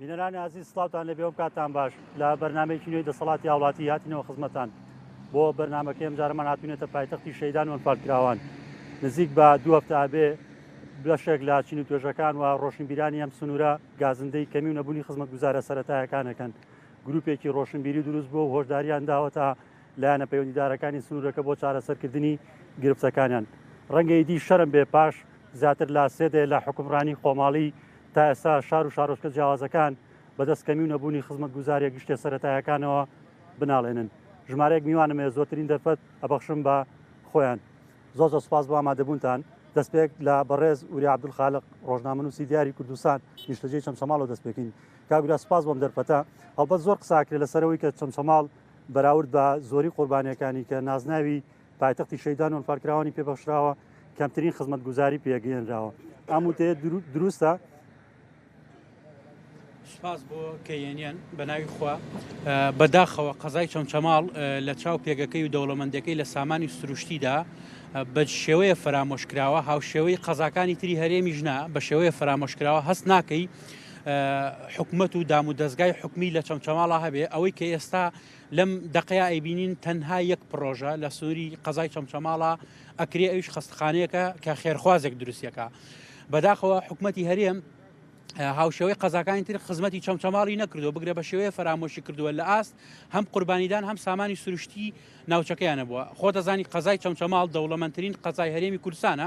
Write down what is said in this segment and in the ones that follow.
بینەرانی ئازی سلااوان لە بێوم کاتان باش لە بەرنمێکی نوێی دەسەڵاتی هاوڵاتی هاتینەوە خزمەتان بۆ بەرنمەکە ئەمجارەمان هاتوونێتە پایتەختی شەیدان وەنفالکراوان نزیک بە دوو هەفتابێ بەشێک لە چین و توێژەکان و ڕۆشنبیرانی ئەم سنوورە گازندەی کەمی و نەبوونی خزمەت گوزارە سەتایەکانەکەن گروپێکی ڕۆشنبیری دروست بۆ هۆشداریان داوەتە لایەنە پەیوەندیدارەکانی سنوورەکە بۆ چارەسەرکردنی گرفتەکانیان. ڕەنگە ئیدی شەرم بێ پاش زیاتر لە سێ دەیە لە حوکمڕانی خۆماڵی، تا ئێستا شار و شارۆچکە جیاوازەکان بەدەست کەمی و نەبوونی خزمەتگوزارییە گشتییە سەرەتایەکانەوە بناڵێنن. ژمارەیەک میوانم هەیە، زۆرترین دەرفەت ئەبەخشم بە خۆیان. زۆر زۆر سوپاس بۆ ئامادەبوونتان. دەستپێک لە بەڕێز وریا عەبدولخالق، ڕۆژنامەنووسی دیاری کوردستان، نیشتەجێی چەمچەماڵەوە دەست پێکەین. کاک وریا سوپاس بۆ ئەم دەرفەتە. هەڵبەت زۆر قسە ئەکرێ لەسەر ئەوەی کە چەمچەماڵ بەراورد بە زۆری قوربانیەکانی کە نازناوی پایتەختی شەیدان وەلفارکراوانی پێبەخشراوە کەمترین خزمەت گوزاری پێگەێنراوە ئەم وتەیە دروستە سپاس بۆ کەێنیان بە ناوی خوا بەداخەوە قەزای چەمچەماڵ لە چاو پێگەکەی و دەوڵەمەندەکەی لە سامانی سروشتیدا بە شێوەیە فەرامۆشکراوە هاوشێوەی قەزاکانی تری هەرێمی ژنا بە شێوەیە فەرامۆشکراوە هەست ناکەی حکومەت و دام و دەستگای حکومی لە چەمچەماڵا هەبێ ئەوەی کە ئێستا لەم دقەیە ئەیبینین تەنها یەک پرۆژە لە سنووری قەزای چەمچەماڵا ئەکرێ ئەوش خستخانەیەەکە کە خێرخوازێک دروستەکە بەداخەوە حکوومەتتی هەرێم هاوشێوەی قەزاکانی تر خزمەتی چەمچەماڵی نەکردو بگرە بە شێوەیە فەرامۆشی کردووە لە ئاست هەم قوربانیدان هەم سامانی سروشتی ناوچەکەیانە بووە خۆ دەزانی قەزای چەمچەماڵ دەوڵەمەندترین قەزای هەرێمی کورسانە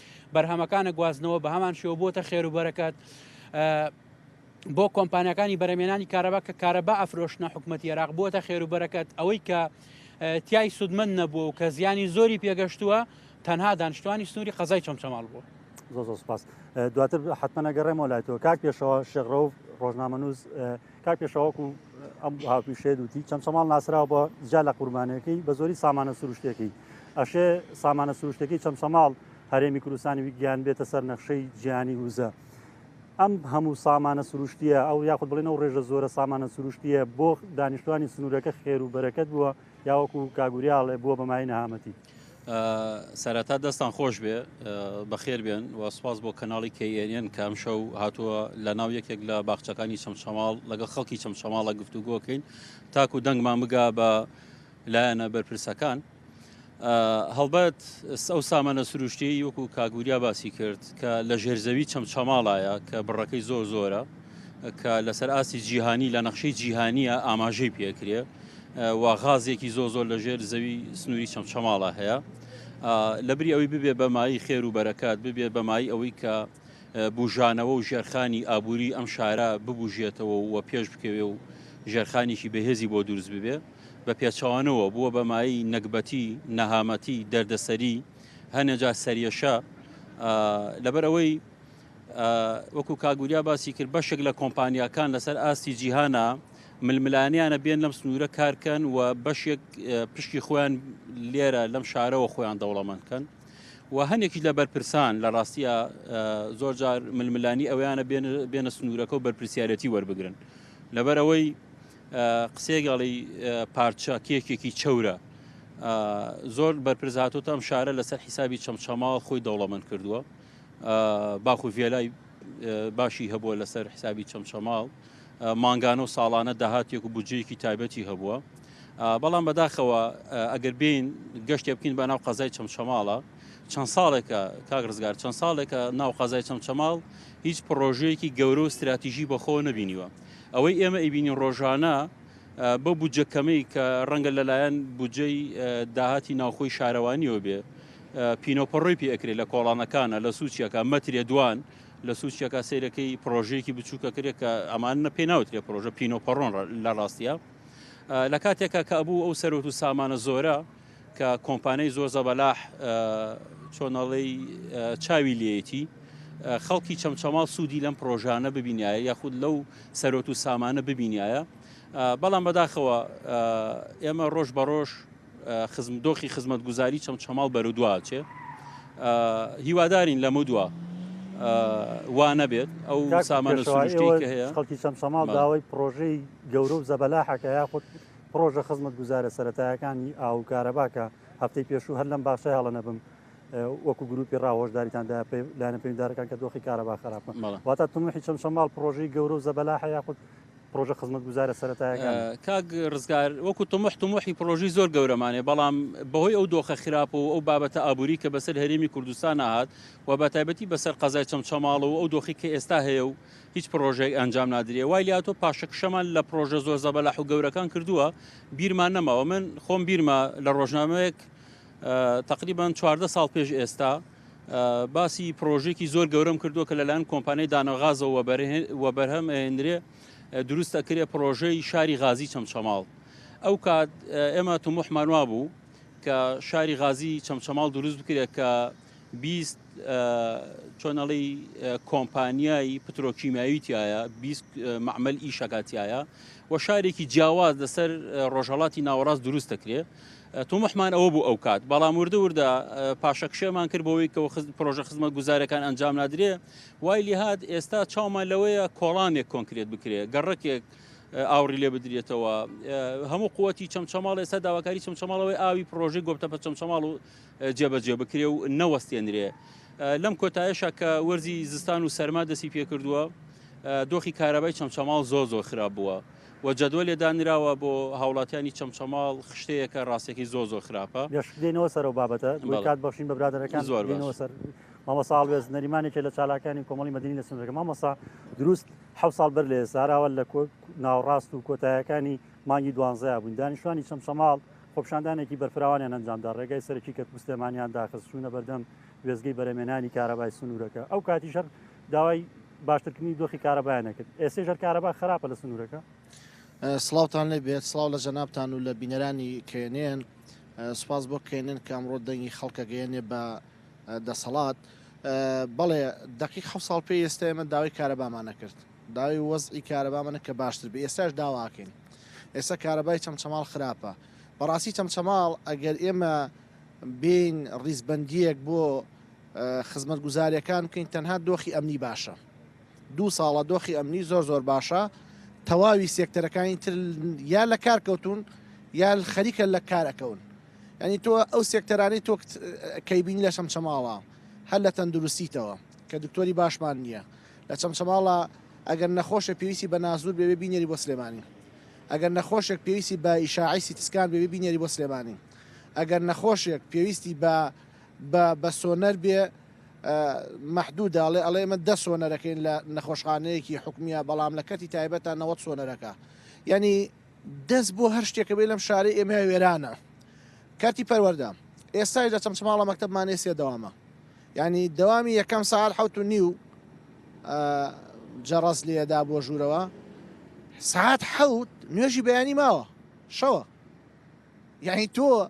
بەرهەمەکانە گوازنەوە بە هەمان شێوە بۆتە خێر و بەرەکەت بۆ کۆمپانیەکانی بەرەمێنانی کارەبا کە کارەبا ئەفرۆشنە حکوومەت عێراق بووە خێر و بەرەکەت ئەوەی کە تای سوودمن نەبووە و کە زیانی زۆری پێگەشتووە تەنها دانیشتوانی سنووری قەزای چەمچەماڵ بووە زۆ زۆ سپاس دواتر حتممەەگەڕێمەوە لای تۆ کاک پێشەوە شێغڕەوە ڕۆژنامەنووس کاک پێشەوەکو ئەم هاوپیشێت وتی چەمچەماڵ ناسراوە بە جیا لە قوربانەکەی بە زۆری سامانە سروشتەکەی ئەشێ سامانە سروشتەکەی چەمچەماڵ هەرێمی کوردستانی ویگیان بێتە سەر نەخشەی جیانی وزە ئەم هەموو سامانە سروشتیە ئەو یاخود بڵێن ئەو ڕێژە زۆرە سامانە سروشتیە بۆ دانیشتوانی سنوورەکە خێر و بەرەکەت بووە یاوەکو کاگوریاڵێ بووە بەمای نەهامەتی سەرەتا دەستان خۆش بێ بەخێر بێن و سپاس بۆ کەناڵی کەیێنێن کە ئەم شەو هاتووە لە ناو یەکێک لە باخچەکانی چەمچەماڵ لەگەڵ خەڵکی چەمچەماڵە گفتوگۆکەین تاکو دەنگمان بگا بە لایەنە بەرپرسەکان. هەڵبەت ئەو سامانە سروشتی وەکو کاگوریا باسی کرد کە لە ژێرزەوی چەمچەماڵایە کە بڕەکەی زۆر زۆرە کە لەسەر ئاستی جیهانی لە نەخشەی جیهانیە ئاماژەی پێکرێ و غازێکی زۆ زۆر لە ژێر زەوی سنووری چەمچەماڵە هەیە لە بری ئەوی ببێ بەمایی خێر و بەرەکات ببێ بەمایی ئەوەی کە بژانەوە و ژێرخانی ئابووری ئەم شارە ببژێتەوە و پێش بکەوێ و ژێرخانێکی بەهێزی بۆ دروست ببێ بە پێچوانەوە بووە بەمایی نەگبەتی نەهامەتی دەردەسەری هەنێجا سەرێشە لەبەر ئەوەی وەکو کاک وریا باسی کرد بەشێک لە کۆمپانیاکان لەسەر ئاستی جیهانە ململانیانە بێن لەم سنوورە کارکەن و بەشێک پشکی خۆیان لێرە لەم شارەوە خۆیان دەوڵەمەندکەن و هەنێکی لە بەرپرسان لە ڕاستیە زۆر جار ململانی ئەویانە بێنە سنوورەکە و بەرپسیارەتی وەربگرن لەبەر ئەوەی قسێگەڵی پارچە کێکێکی چەورە زۆر بەرپرزهاتۆتە ئەم شارە لەسەر حیسابی چەمچەماوە خۆی دەوڵەمەند کردووە باخ و ڤێلای باشی هەبووە لەسەر حسابی چەمچەماڵ مانگانە و ساڵانە داهاتێک و بودجەیەکی تایبەتی هەبووە بەڵام بەداخەوە ئەگەر بین گەشتێ بکەین بە ناو قەزای چەمچەماڵە چەند ساڵێکە کاک ڕزگار چەند ساڵێکە ناو قەزای چەمچەماڵ هیچ پرۆژەیەکی گەورە و استراتیژی بەخۆ نەبینیوە ئەوەی ئێمە ئەیبینین ڕۆژانە بە بودجە کەمەی کە ڕەنگە لەلایەن بودجەی داهاتی ناوخۆی شارەوانیەوە بێ پینەو پەڕۆی پێ ئەکرێ لە کۆڵانەکانا لە سوچیەکا مەترێ دوان لە سوچیەکا سەیرەکەی پڕۆژەیەکی بچووکە کرێ کە ئەمانە پێ ناوترێ پرۆژە پینەو پەڕۆن لە ڕاستیە لە کاتێکا کە ئەبوو ئەو سەرۆت و سامانە زۆرە کە کۆمپانیای زۆر زەبەلاح چۆنەڵی چاوی لێتی خەڵکی چەمچەماڵ سوودی لەم پرۆژانە ببینایە یاخود لەو سەرۆت و سامانە ببینایە بەڵام بەداخەوە ئێمە ڕۆژ بە ڕۆژ دۆخی خزمەتگوزاری چەمچەماڵ بەرودوا ئەچێت هیوادارین لەمدووە وانەبێت ئەو سامانە هەیە خەڵکی چەم سەماڵ داوای پرۆژەی گەورە و زەبەلاحەکە یاخود پرۆژە خزمەت گوزارە سەتایەکانی ئاو کارەباکە هەفتەی پێشوو هەر لەم باشە هەڵە نەبم وەکو گروپی ڕاهۆشداریتاندا لاەن پێدارەکان کە دۆخی کارەبا خراپە واتە تمحی چەم سەماڵ پرۆژەی گەورە و زەبەلاحە یاخود پڕۆژە خزمەتگوزارە سەرەتایەکان کاک ڕزگار وەکو تمح تمحی پرۆژی زۆر گەورەمانێ بەڵام بەهۆی ئەو دۆخە خراپ و ئەو بابەتە ئابووری کە بەسەر هەرێمی کوردستان ناهات و بە تایبەتی بەسەر قەزای چەمچەماڵ و ئەو دۆخی کە ئێستا هەیە و هیچ پرۆژێک ئەنجام نادرێ وای لاتۆ پاشەکشەمان لە پرۆژە زۆر زەبەلاح و گەورەکان کردووە بیرمان نەماوە من خۆم بیرمە لە ڕۆژنامەیەک تقریبان چواردە ساڵ پێش ئێستا باسی پرۆژێکی زۆر گەورەم کردووە کە لەلایەن کۆمپانیای دانەغازەوە وەبەرهەم ئەێنرێ دروست ئەکرێ پرۆژەی شاری غازی چەمچەماڵ ئەو کات ئێمە تموحمان وا بوو کە شاری غازی چەمچەماڵ دروست بکرێت کە بیست چۆنەڵی کۆمپانیایی پترۆکیماوی تایە بیست معمل ئیشەکاتایە و شارێکی جیاواز لەسەر ڕۆژهڵاتی ناوەڕاست دروست دەکرێت تۆموحمان ئەوە بوو ئەوکات، بەڵام وردە وردە پاشەکشێمان کرد بۆوەی کە پرۆژە خزمەتگوزاریەکان ئەنجام نادرێ، وای لێهات ئێستا چاومان لەوەیە کۆڵانێک کۆنکرێت بکرێ، گەڕەکێک ئاوڕی لێ بدرێتەوە، هەموو قوتی چەمچەماڵ ئێستا داواکاری چەمچەماڵەوەی ئاوی پرۆژەی گۆپتەپە چەمچەماڵ و جێبەجێ بکرێ و نەوەستێنرێ. لەم کۆتایشە کە وەرزی زستان و سەرما دەسی پێکردووە، دۆخی کارەبای چەمچەماڵ زۆر زۆر خراپ بووە وە جەدوەلێ دانراوە بۆ هاوڵاتیانی چەمچەماڵ خشتەیەکە ڕاستەکەی زۆر زۆر خراپە. بێشک دێنەوە سەرەو بابەتە بۆی کات بەخشین بە برادەرەکان زۆر دێنەوە سەر مامۆسا هەڵوێست نەریمانێکێ لە چالاکانی کۆمەڵی مەدەنی لە سنوورەکە مامۆسا دروست حەوت ساڵ بەر لە ئێستا ئەراوە لە کۆ ناوەڕاست و کۆتایەکانی مانگی دوانزەیا بووین دانیشتوانی چەمچەماڵ خۆپیشاندانێکی بەرفراوانیان ئەنجامدا ڕێگای سەرەکی کەرکووک سلێمانیان داخست چوونە بەردەم وێستگەی بەرەمێنانی کارەبای سنوورەکە ئەو کاتیش هەر داوای باشترکردنی دۆخی کارەبایان نەکرد ئێسێ ژەر کارەبا خراپە لە سنوورەکە سلااوان لێ بێت سلااو لە جەنابان و لە بینەرانی کێنێن سوپاس بۆ کێنێن کە ئەمڕۆ دەنگی خەڵکە گەیەنێ بە دەسەڵات بەڵێ دقی حە ساڵ پێ ئێستا ئێمە داوای کارەبامان نەکرد داوی وەزئی کارەبامانە کە باشتر بێ ئێستاش داواکەین ئێستا کارەبای چەمچەماڵ خراپە بەڕاستی چەمچەماڵ ئەگەر ئێمە بین ڕیزبندیەک بۆ خزمەتگوزاریەکان بکەین تەنها دۆخی ئەمنی باشە دوو ساڵە دۆخی ئەمنی زۆر زۆر باشە تەواوی سێکتەرەکانی تر یا لە کار کەوتون یا خەریکە لە کار ئەکەون ینی تۆ ئەو سێکتەرانی تۆ کەیبین لە شەمچەماڵە هەر لە تەندروستیتەوە کە دکتۆری باشمان نییە لە چەمچەماڵە ئەگەر نەخۆشە پێویستی بە نازور بێ بینێری بۆ سلێمانی ئەگەر نەخۆشێک پێویستی بە ئیشاعیسی تسکان بێ بینێری بۆ سلێمانی ئەگەر نەخۆشێک پێویستی بە بە بە سۆنەر بێ مەحدودە ئەڵێ ئەڵێ ئێمە دە سۆنەرەکەین لە نەخۆشخانەیەکی حکومیە بەڵام لە کەتی تایبەت تا نەوەت سۆنەرەکە یعنی دەست بۆ هەر شتێکە بێ لەم شارەی ئێمە وێرانە کەتی پەروەەردە ئێستای لە چەمچماڵە مەکتتەبمانێ سێ دەوامە ینی دەوامی یەکەم ساعت حوت و نیو جەڕاز لێدا بۆ ژوورەوە ساعت حەوت نوێژی بەیانی ماوە شەوە یعنی تۆ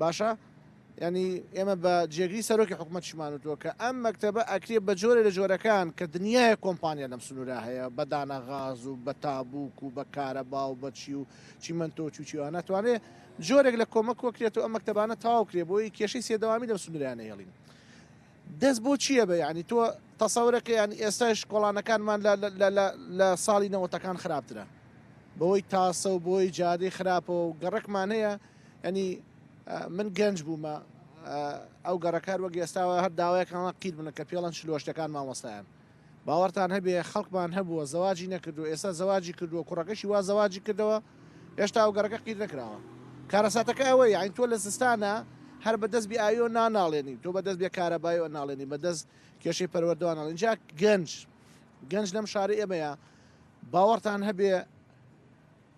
باشە یانی ئێمە بە جێگری سەرۆکی حکوومەتشمان وتووە کە ئەم مەکتتەبە ئەکرێ بە جۆرە لە جۆرەکان کە دنیاە کۆمپانیا لەم سنوورە هەیە بە دانا غاز و بە تابووک و بە کارە با و بەچی و چیمەندۆ چوچیوان ناتوانێت جۆرێک لە کۆمەک وەکرێت و ئەم مەکتتەبانە تاوکرێ بۆی کێشەی سێدەوامی لەم سنوورانە هێڵین دەست بۆ چییە بە ینی تۆ تەسەورەکە یان ئێستاش کۆڵانەکانمان لە ساڵی نەوەتەکان خراپترە بەوەی تاسە و بۆی جادەی خراپەوە و گەڕکمان هەیە یانی من گەنج بوومە ئەو گەڕەکار وەک ئێستاوە هەر داوایەکانڵە قیر بنە کە پێڵەن شلۆشتەکان مامۆستایان باوەڕتان هەبێ خەڵکمان هەبووە زەواجی نەکردو ئێستا زەواجی کردووە کوڕەکەشی وا زەواجی کردەوە هێشتا ئەو گەڕەکە قیر نەکراوە کارەساتەکە ئەوە یاین تۆ لە زستانە هەر بەدەست بی ئاویۆ ناناڵێنی تۆ بەدەست بێ کارەبای و ناڵێنی بەدەست کێشەی پەروەردوانە لەجا گەنج گەنج لەم شاری ئێمەیە باوەڕتان هەبێ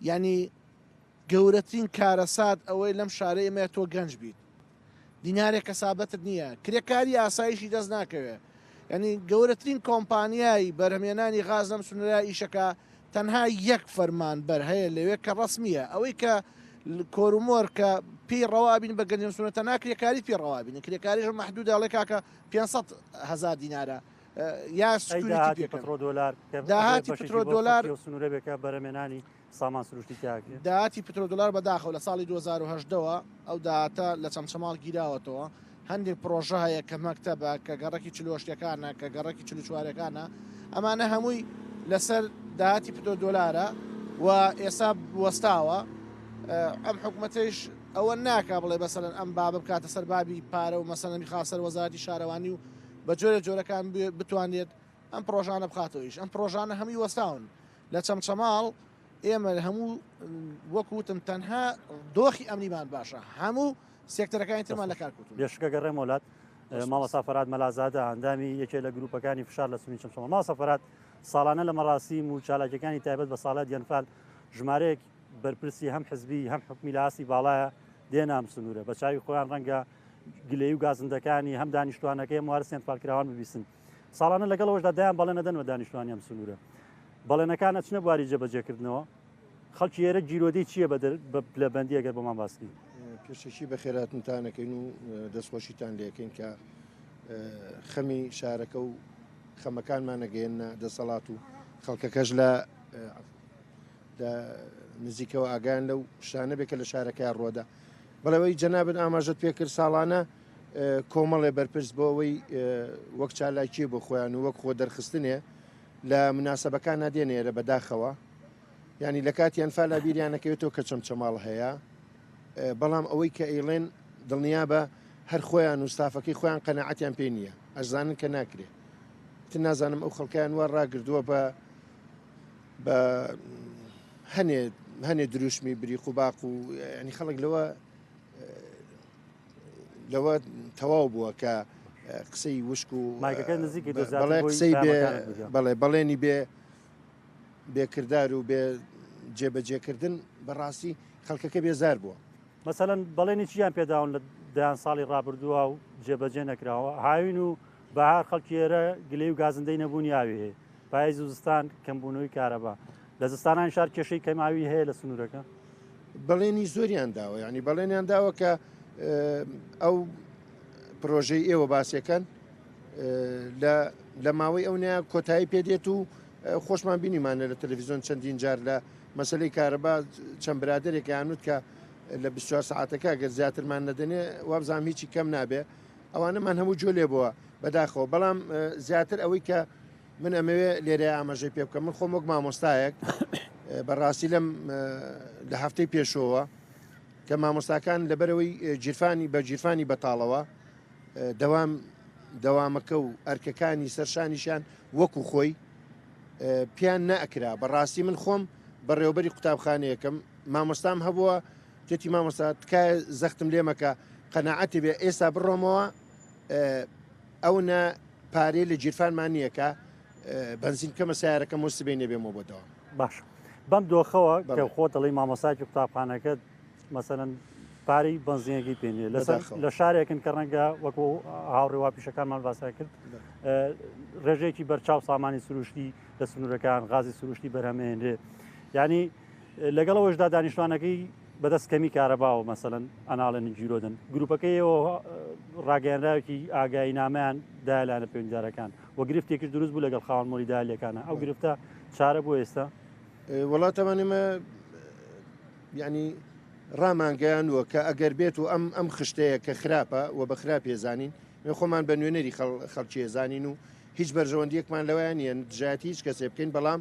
ینی گەورەترین کارەسات ئەوەی لەم شارەی ئێمەیە تۆ گەنج بیت دینارێک کەسابەتت نییە کرێکاری ئاسایشی دەست ناکەوێ یعنی گەورەترین کۆمپانیای بەرهەمێنانی غاز لەم سنورە ئیشەکە تەنها یەک فەرمان بەر هەیە لەوێ کە ڕسمیە ئەوەی کە کۆرومۆر کە پێی ڕەوابین بە گەنجم سونە تەنا کرێکاری پێ ڕەوابین کرێکاریش محدود ئەڵێ کاکە 500 هزار دینارە یا سکوریتی پێکڕۆ دلار داهاتی پترۆ دلار سنورەبێکە بەرەمێنانی سامان سروشتی تیا کرێ. داهاتی پترۆدۆلار بەداخەوە لە ساڵی دوو هەزار و هەژدە وە ئەو داهاتە لە چەمچەماڵ گیراوەتەوە هەندێک پرۆژە هەیە کە مەکتەبە کە گەڕەکی چلۆ شتەکانە کە گەڕەکی چلو چوارەکانە ئەمانە هەمووی لەسەر داهاتی پترۆدۆلارە و ئێستا وەستاوە ئەم حکوومەتەیش ئەوە ناکا بڵێ بەسەرەن ئەم بابە بکاتە سەر بابی پارە و مەسەنەمی خاسەر وەزارتی شارەوانی و بە جۆرە جۆرەکان بتوانێت ئەم پرۆژانە بخاتەوەیش ئەم پرۆژانە هەمووی وەستاون لە چەمچەماڵ ئێمە هەموو وەک وتم تەنها دۆخی ئەمنیمان باشە هەموو سێکتەرەکانی ترمان لە کارکوت بێشکە گەڕێ مۆلات ماڵە سافرات مەلازادە ئەندامی یەکێ لە گروپەکانی فشار لە سنی چەمچەمە ما سەفرات ساڵانە لە مەڕاستی و چالاکەکانی تایبەت بە ساڵات یەنفال ژمارەیەک بەرپرسی هەم حزبی هەم حکومی لە ئاستی باڵایە دێنام سنوورە بە چاوی خۆیان ڕەنگە گلەی و گازندەکانی هەم دانیشتوانەکەی موارسیان پالکراوان ببیسن ساڵانە لەگەڵ ئەوەشدا دایان بەڵێنە دەن بە دانیشتوانی ئەم سنوورە بەڵێنەکان ئەچنە بواری جێبەجێکردنەوە خەڵکی ئێرە گیرۆدەی چییە بە لە بەندی ئەگەر بۆمان باستی پێشەکی بە خێراتنتانەکەین و دەستخۆشیتان لەکەین کە خەمی شارەکە و خەمەکانمان نەگەێنە دەسەڵات و خەڵکەکەش لە نزیکەوە ئاگان لەو شانە بێکە لە شارەکە ڕۆدا بەڵەوەی جەنابن ئاماژەت پێکرد ساڵانە کۆمەڵێ بەرپرس بۆ ئەوەی وەک چالاکیێ بۆ خۆیان و وەک خۆ دەرخستنێ لە مناسبەکان نادێنێرە بەداخەوە ینی لە کاتی ئەنفالا بیریانەکەوێتەوە کە چەم چەماڵ هەیە بەڵام ئەوەی کە ئەیڵێن دڵنیا بە هەر خۆیان و ستافەکەی خۆیان قەنەعاتیان پێ نییە ئەزانن کە ناکرێت تر نازانم ئەو خەڵکیان وا ڕاگردووە بە بە هەنێ هەنێ دروشمی بری قوباق و ینی خەڵک لەوە لەوە تەواو بووە کە قسەی وشک و مایکەکە نزیکی دەزات بەڵێ بۆی قسەی بێ پەیامەکانت بگەم. بەڵێ بەڵێنی بێ بێکردار و بێ جێبەجێکردن بەڕاستی خەڵکەکە بێزار بووە مەسەلەن بەڵێنی چیان پێداون لە دەیان ساڵی ڕابردووە و جێبەجێ نەکراوە هاوین و بەهار خەڵکی ئێرە گلەی و گازندەی نەبوونی ئاوی هەیە پایز و زستان کەمبوونەوەی کارەبا لە زستانان شار کێشەی کەماوی هەیە لە سنوورەکە بەڵێنی زۆریان داوە ینی بەڵێنیان داوە کە ئەو پرۆژەی ئێوە باسەکەن لە ماوەی ئەو نیا کۆتایی پێدێت و خۆشمان بینیمانە لە تەلەڤزیۆن چەندین جار لە مەسلەی کارەبا چەند برادێکیانوت کە لە 24 ساعتەکە گەر زیاترمان نەدەنێ وابزانام هیچی کەم نابێ ئەوانەمان هەموو جوێ لێ بۆوە بەداخەوە بەڵام زیاتر ئەوەی کە من ئەمەوێ لێرە ئاماژەی پێ بکەم من خۆم وەک مامۆستایەک بەڕاستی لەم لە هەفتەی پێشەوە کە مامۆستاکان لەبەرەوەی جیرفانی بە جیرفانی بەتاڵەوە دەوام دەوامەکە و ئەرکەکانی سەرشانیشان وەکو خۆی پیان نەکرا بەڕاستی من خۆم بەڕێوبەری قوتابخانەیەکەم مامۆستام هەبووە جەتی مامۆستا تکایە زەختم لێ مەکە قەنەعەتی بێ ئێستا بڕۆمەوە ئەو نە پارەی لە جیرفانمان نییە کە بەنزین کەمە سیارەکە مۆسبێ نەبێمەوە بۆ دەوام باش بەم دۆخەوە کە خۆ دەڵی مامۆساکی قوتابخانەکەت مەسەن پارەی بەنزینەکەی پێنیە لەسەر لە شارێکن کە ڕەنگە وەکو هاوڕێوا پیشەکانمان باسا کرد ڕێژێکی بەرچاو سامانی سروشتی لە سنوورەکان غازی سروشتی بەرهەمێنرێ ینی لەگەڵ ئەوەشدا دانیشتوانەکەی بەدەست کەمی کارەباوە مەسەن ئەناڵێن جیرۆدن گروپەکەیەوە ڕاگەیانراوێکی ئاگایی نامیان دایلانە پێنجارەکان و گرفتێکش دروست بوو لەگەڵ خاوەن مۆری دالەکانە ئەو گرفتە چارە بۆ ئێستا وڵاتەوان ئمە ینی ڕامانگەیان وە کە ئەگەر بێت و ئەم ئەم خشتەیە کە خراپە و بە خراپ هێزانین خۆمان بە نوێنەری خەڵکی هێزانین و هیچ بەرژەوەندیەکمان لەوەیان یەن دژایەتی هیچ کەسێ بکەین بەڵام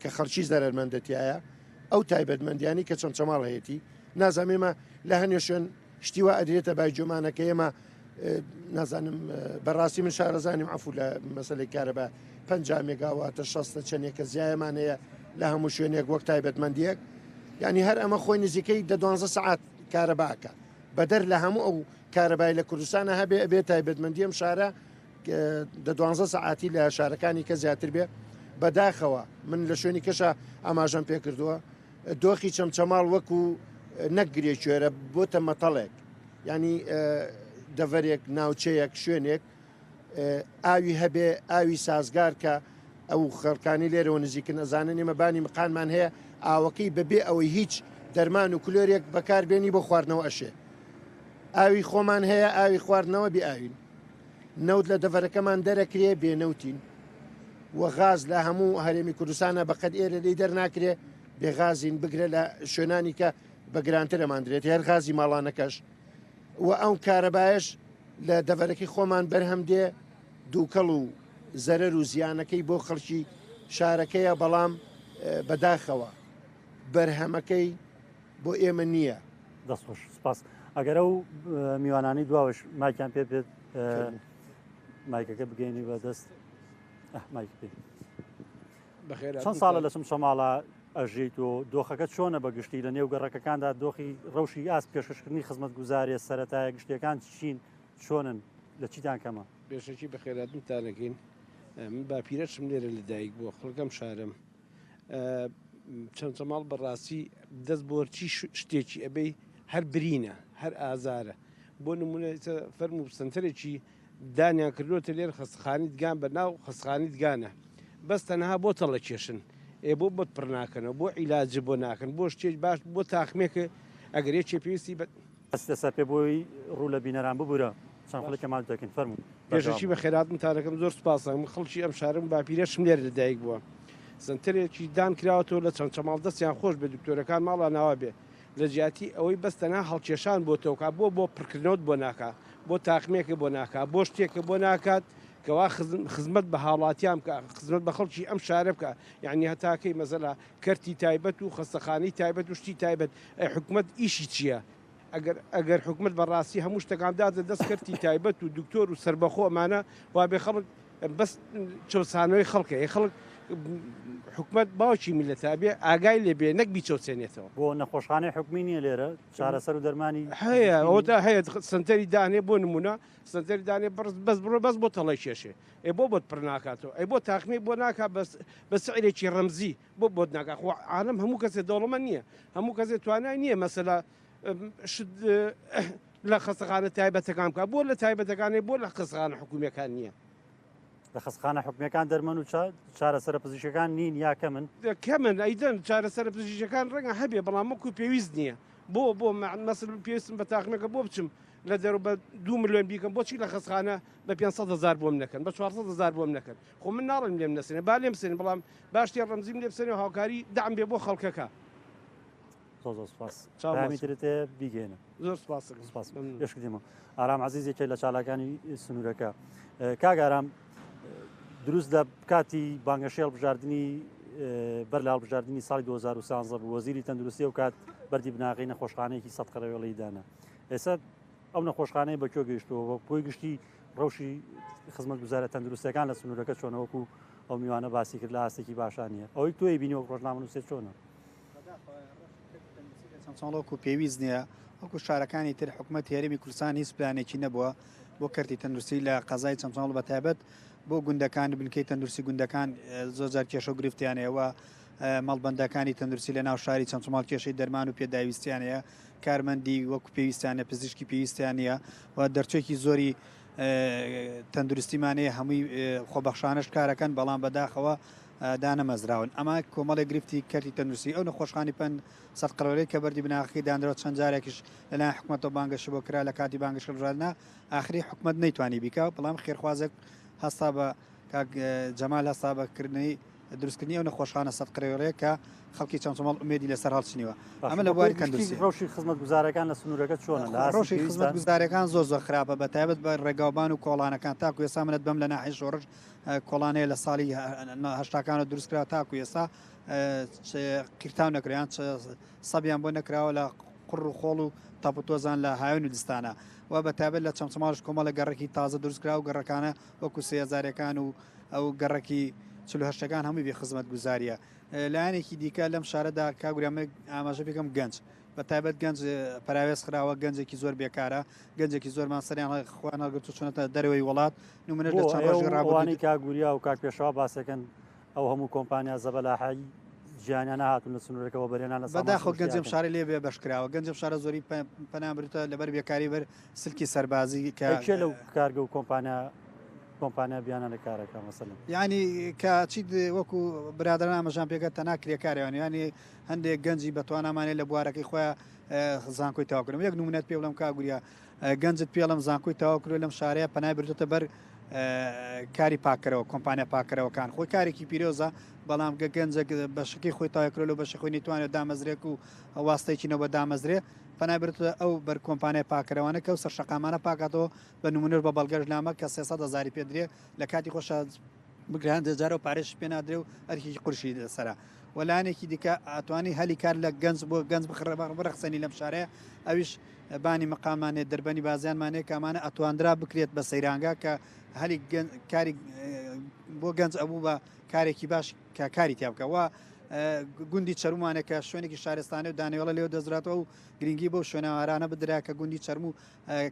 کە خەڵکی زەرەرمەندە تیایە ئەو تایبەتمەندیانی کە چەمچەماڵ هەیەی نازانێمە لە هەنێ شوێن شتی وا ئەدرێتە بای جۆمانەکە ئێمە نازانم بەڕاستی من شارەزانیم عفو لە مەسلەی کارە بە پ مێگاواتە شەستە چەندێکە زیایمان هەیە لە هەموو شوێنێک وەک تایبەتمەندیەک ینی هەر ئەمە خۆی نزیکەی دە دوانزە سعات کارەباکە بەدەر لە هەموو ئەو کارەبای لە کوردستانە هەبێ ئەبێ تایبەتمەندیم شارە دە دوانزە سەعاتی لە شارەکانی کە زیاتر بێ بەداخەوە من لە شوێنی کەشە ئاماژەم پێ کردووە دۆخی چەمچەماڵ وەکو نەکگرێ کوێرە بۆتە مەتەڵێک ینی دەڤەرێک ناوچەیەک شوێنێک ئاوی هەبێ ئاوی سازگار کە ئەو خەڵکانی لێرەوە نزیکن ئەزانن ئێمە بانی مقانمان هەیە ئاوەکەی بەبێ ئەوەی هیچ دەرمان و کلۆرێک بەکاربێنی بۆ خواردنەوە ئەشێ ئاوی خۆمان هەیە ئاوی خواردنەوە بێ ئاوین نەوت لە دەڤەرەکەمان دەرەکرێ بێ نەوتین و غاز لە هەموو هەرێمی کوردستانە بەقەد ئێرە لی دەرناکرێ بێ غازین بگرە لە شوێنانی کە بە گرانتر ئەماندرێت هەر غازی ماڵانەکەش و ئەو کارەبایش لە دەڤەرەکەی خۆمان بەرهەم دێ دووکەڵ و زەرەر و زیانەکەی بۆ خەڵکی شارەکەیە بەڵام بەداخەوە بەرهەمەکەی بۆ ئێمە نییە. دەست خۆش سپاس ئەگەر ئەو میوانانی دواوەش ماکیان پێ بێت مایکەکە بگەینی بە دەست مایک پێ بەخێر چەند ساڵە لەسم شەماڵە ئەژیت و دۆخەکە چۆنە بە گشتی لە نێو گەڕەکەکاندا دۆخی ڕەوشی ئاست پێشکەشکردنی خزمەت گوزارێ سەتایە گشتیەکان چین چۆنن لە چیتان کەمە بێشەکی بەخێراتنتانەکەین من باپیرەشم لێرە لەدایک بووە خەڵگەم شارم چەمچەماڵ بەڕاستی دەست بۆرچی شتێکی ئەبەی هەر برینە هەر ئازارە بۆ نمونە فەرم و سنتەرێکی دانیان کردوتە لێر خستخانی دگان بە ناو خستخانی دگانە بەس تەنها بۆ تەڵە کێشن ئێ بۆ بۆت پڕ ناکەنەوە بۆ عیلاج بۆ ناکەن بۆ شتێک باش بۆ تاخمێکە ئەگەر یەکێ پێویستی بە بەس لە سەر پێ بۆی ڕوو لە بینەران ببورە چەند خولەکێ ماچ دەکەین فەرموو. پێشەکی بەخێرات متارەکەم زۆر سوپاسە من خەڵکی ئەم شارم باپیرەشم لێرە لەدایک بووە سنتەرێکی دان کراوەتەوە لە چەند چەماڵ دەستیان خۆش بێ دکتۆرەکان ماڵا ناوا بێ لە جیاتی ئەوەی بەس تەنها هەڵکێشان بۆ تۆکا بۆ بۆ پڕکردنەوەت بۆ ناکا بۆ تاقمێکە بۆ ناکا بۆ شتێکە بۆ ناکات کەوا خزمەت بە هاوڵاتیان بکە خزمەت بە خەڵکی ئەم شارە بکە یعنی هەتاکەی مەزەلا کەرتی تایبەت و خەستەخانەی تایبەت و شتی تایبەت ئەی حکومەت ئیشی چیە ئەگەر ئەگەر حکومەت بەڕاستی هەموو شتەکان دادە دەست کەرتی تایبەت و دکتۆر و سربەخۆ ئەمانە وابێ خەڵک بەس چەسانەوەی خەڵکە خەڵک حکومت باوکی میلەتە بێ ئاگای لێ بێ نەک بیچەوسێنێتەوە بۆ نەخۆشخانەی حکومی نیە لێرە چارەسەر و دەرمانی هەیە ئەوتا هەیە سنتەری دانێ بۆ نمونە سنتەری دانێ بەس بڕۆ بەس بۆ تەڵی کێشێ ئەی بۆ بۆت پڕ ناکاتەوە ئەی بۆ تاقمی بۆ ناکا بەس بە سعرێکی ڕەمزی بۆ بۆت ناکا خۆ عالم هەموو کەسێ دەوڵەمە نییە هەموو کەسێ توانای نییە مەسەلا لە خەسەخانە تایبەتەکان بکە بۆ لە تایبەتەکانی بۆ لە قسخانە حکوومیەکان نییە لە خەسخانە حکومیەکان دەرمەن و چارەسەر پزیشەکان نین یاکە من کە من ئەیدەن چارەسەر پزیشەکان ڕەنگە هەبێ بەڵام وەکو پێویست نییە بۆ بۆ مەسل پێستم بە تاخنەکە بۆ بچم لە دەرو بە دو ملیۆن بیکەم بۆچی لە خەسخانە بە پێنج سەد هەزار بۆم نەکەن بە چوار سەد هەزار بۆم نەکەن خۆ من ناڵێم لێم نەسێنێ با لێم بسێنن بەڵام باش تێ ڕەمزیم لێ بسێنێ و هاوکاری دام بێ بۆ خەڵکەکە زۆر زۆر سپاس چاومی چاوەڕوان. ترت هەیە بیگەێنە زۆر سپاس سپاس ممنون. پێشکردیمە ئارام عزیز یەکێ لە چالاکانی سنوورەکە ئه، کاک ئارام دروست لە کاتی بانگەشەی هەڵبژاردننی بەر لە هەڵبژاردننی ساڵی 2013 بوو وەزیری تەندروستی و کات بەری بناغی نەخۆشخانەیەکی سەد قەرەوێڵی دانا ئێستا ئەو نەخۆشخانەیە بە کوێ گەیشتووە بە کۆی گشتی ڕەوشی خزمەتگوزارە تەندروستەکان لە سنوورەکە چۆنەوەکو ئەو میوانە باسی کرد لە ئاستێکی باشانە ئەوەی تۆی بینی و ڕۆژنامەنووسێ چۆنە چۆڵۆکو پێویست نییە وەکو شارەکانی تر حکوومەت هێرمی کوردستان هیچ پلانێکی نەبووە بۆ کەرتی تەندروستی لە قەزای چەمچۆڵ بە تایبەت بۆ گوندەکان بنکەی تەندروستی گوندەکان زۆزار کێشە و گرفتیانەیەوە مەڵبندەکانی تەندروستی لە ناو شاری چەمچماڵ کێشەی دەرمان و پێداویستیانەیە کارمەندی وەکو پێویستیان نیە، پزیشکی پێویستیان نیە و دەرچوێکی زۆری تەندروستیمانەیە هەمووی خۆبەخشانش کارەکەن بەڵام بەداخەوە دانەمەزراون ئەما کۆمەڵی گرفتی کەرتی تەندروستی ئەو نەخۆشخانی پند سەد قڕۆلەی کە بەردی بناغەکەی دانرەوە چەند جارێکیش لەلایەن حکوومەتەوە بانگەشی بۆ کرا لە کاتی بانگشکردنا ئاخری حکومت نەیتوانی بیکە بەڵام خێرخوازێک هەستا بە کاک جەمال هەستا بە کردنەوەی دروستکردنی ئەو نەخۆشخانە سەد قرێوەیە کە خەڵکی چەمچەماڵ ئومێدی لەسەر هەڵچنیوە ئەمە لە بواری تەندروستی ڕۆشی خزمەت گوزارەکان لە سنوورەکە چۆنە لە ڕۆشی خزمەت گوزارەکان زۆر زۆر خراپە بە تایبەت بە ڕێگاوبان و کۆڵانەکان تاکو ێسا منەت بەم لە ناحی شۆڕش کۆڵانەیە لە ساڵی هەشتاکانە دروستکرا تاکو ێسا قیرتان نەکریان سەبیان بۆ نەکراوە لە قڕ و خۆڵ و تاپوتۆزان لە هاوێن و دستانە و بە تابێت لە چەمچماش کۆمەڵە گەڕێکی تازە دروستکرا و گەڕەکانە وەکو سێ هەزارەکان و ئەو گەڕەکی چلو هەشتەکان هەمووی بێ خزمەت گوزاریە لایەنێکی دیکە لەم شارەدا کاگورامێک ئاماژە بکەم گەنج بە تایبەت گەنج پراوێز خراوە گەنجێکی زۆر بێکارە گەنجێکی زۆرمان سەریان خوان هەڵگرت و چونەتە دەرەوەی وڵات نمونە لە چاڕ ڕابوانی کاگوریا و کاک پێشەوە باسەکەن ئەو هەموو کۆمپانیا زەبەلاحایی ژیانیانە هاتون لە سنوورەکەەوە بەرێنانە بەداخۆ گەنجم شارە لێ بێ بەشکراوە گەنجم شارە زۆری پەنامرتە لەبەر بێکاری بەر سلکی سەربازی کە ئەی کێ لەو کارگە و کۆمپانیا کۆمپانیا بیانانە کارەکە مەسەلم ینی کە چیت وەکو برادران ئامەژان پێگە تەنا کرێکاریان ینی هەندێک گەنجی بەتوانامانێ لە بوارەکەی خۆیان زانکۆی تاواکردم یەک نمونەت پێ بڵم کاگوریا گەنجت پێڵم زانکۆی تاواکرۆ لەم شارەیە پەنای بردوتە بەر کاری پاکەرەوە کۆمپانیا پاکەرەوەکان خۆی کارێکی پیرۆزە بەڵام گە گەنجە بەشکی خۆی تاکرۆ لە بەشی خۆی نتوانێت دامەزرێک و واستێکی نەوە دامەزرێ پەنای بردتە ئەو بەر کۆمپانیای پاککەرەوانە کە ئەو سەر شەقامانە پاکاتەوە بە نمونەش بە بەڵگەش لامە کە سێسەد هەزاری پێ درێ لە کاتی خۆشە بگران دەجارە و پارێش پێ نادرێ و ئەرکێکی قورشی دەسەرە وەلانێکی دیکە ئەتوانی هەلی کار لە گەنج بۆ گەنج بخڕە بڕەخسەنی لەم شارە ئەویش بانی مقامانێ دەربەنی بازیانمانێ کامانە ئەتواندرا بکرێت بە سەیرانگا کە هەلی کاری بۆ گەنج ئەبوو بە کارێکی باش کە کاری تیا بکە وە گوندی چەرمانە کە شوێنێکی شارستانە و دانیێڵە لێو دەزراتەوە و گرنگی بۆ شوێنەوارانە بدرا کە گوندی چەرموو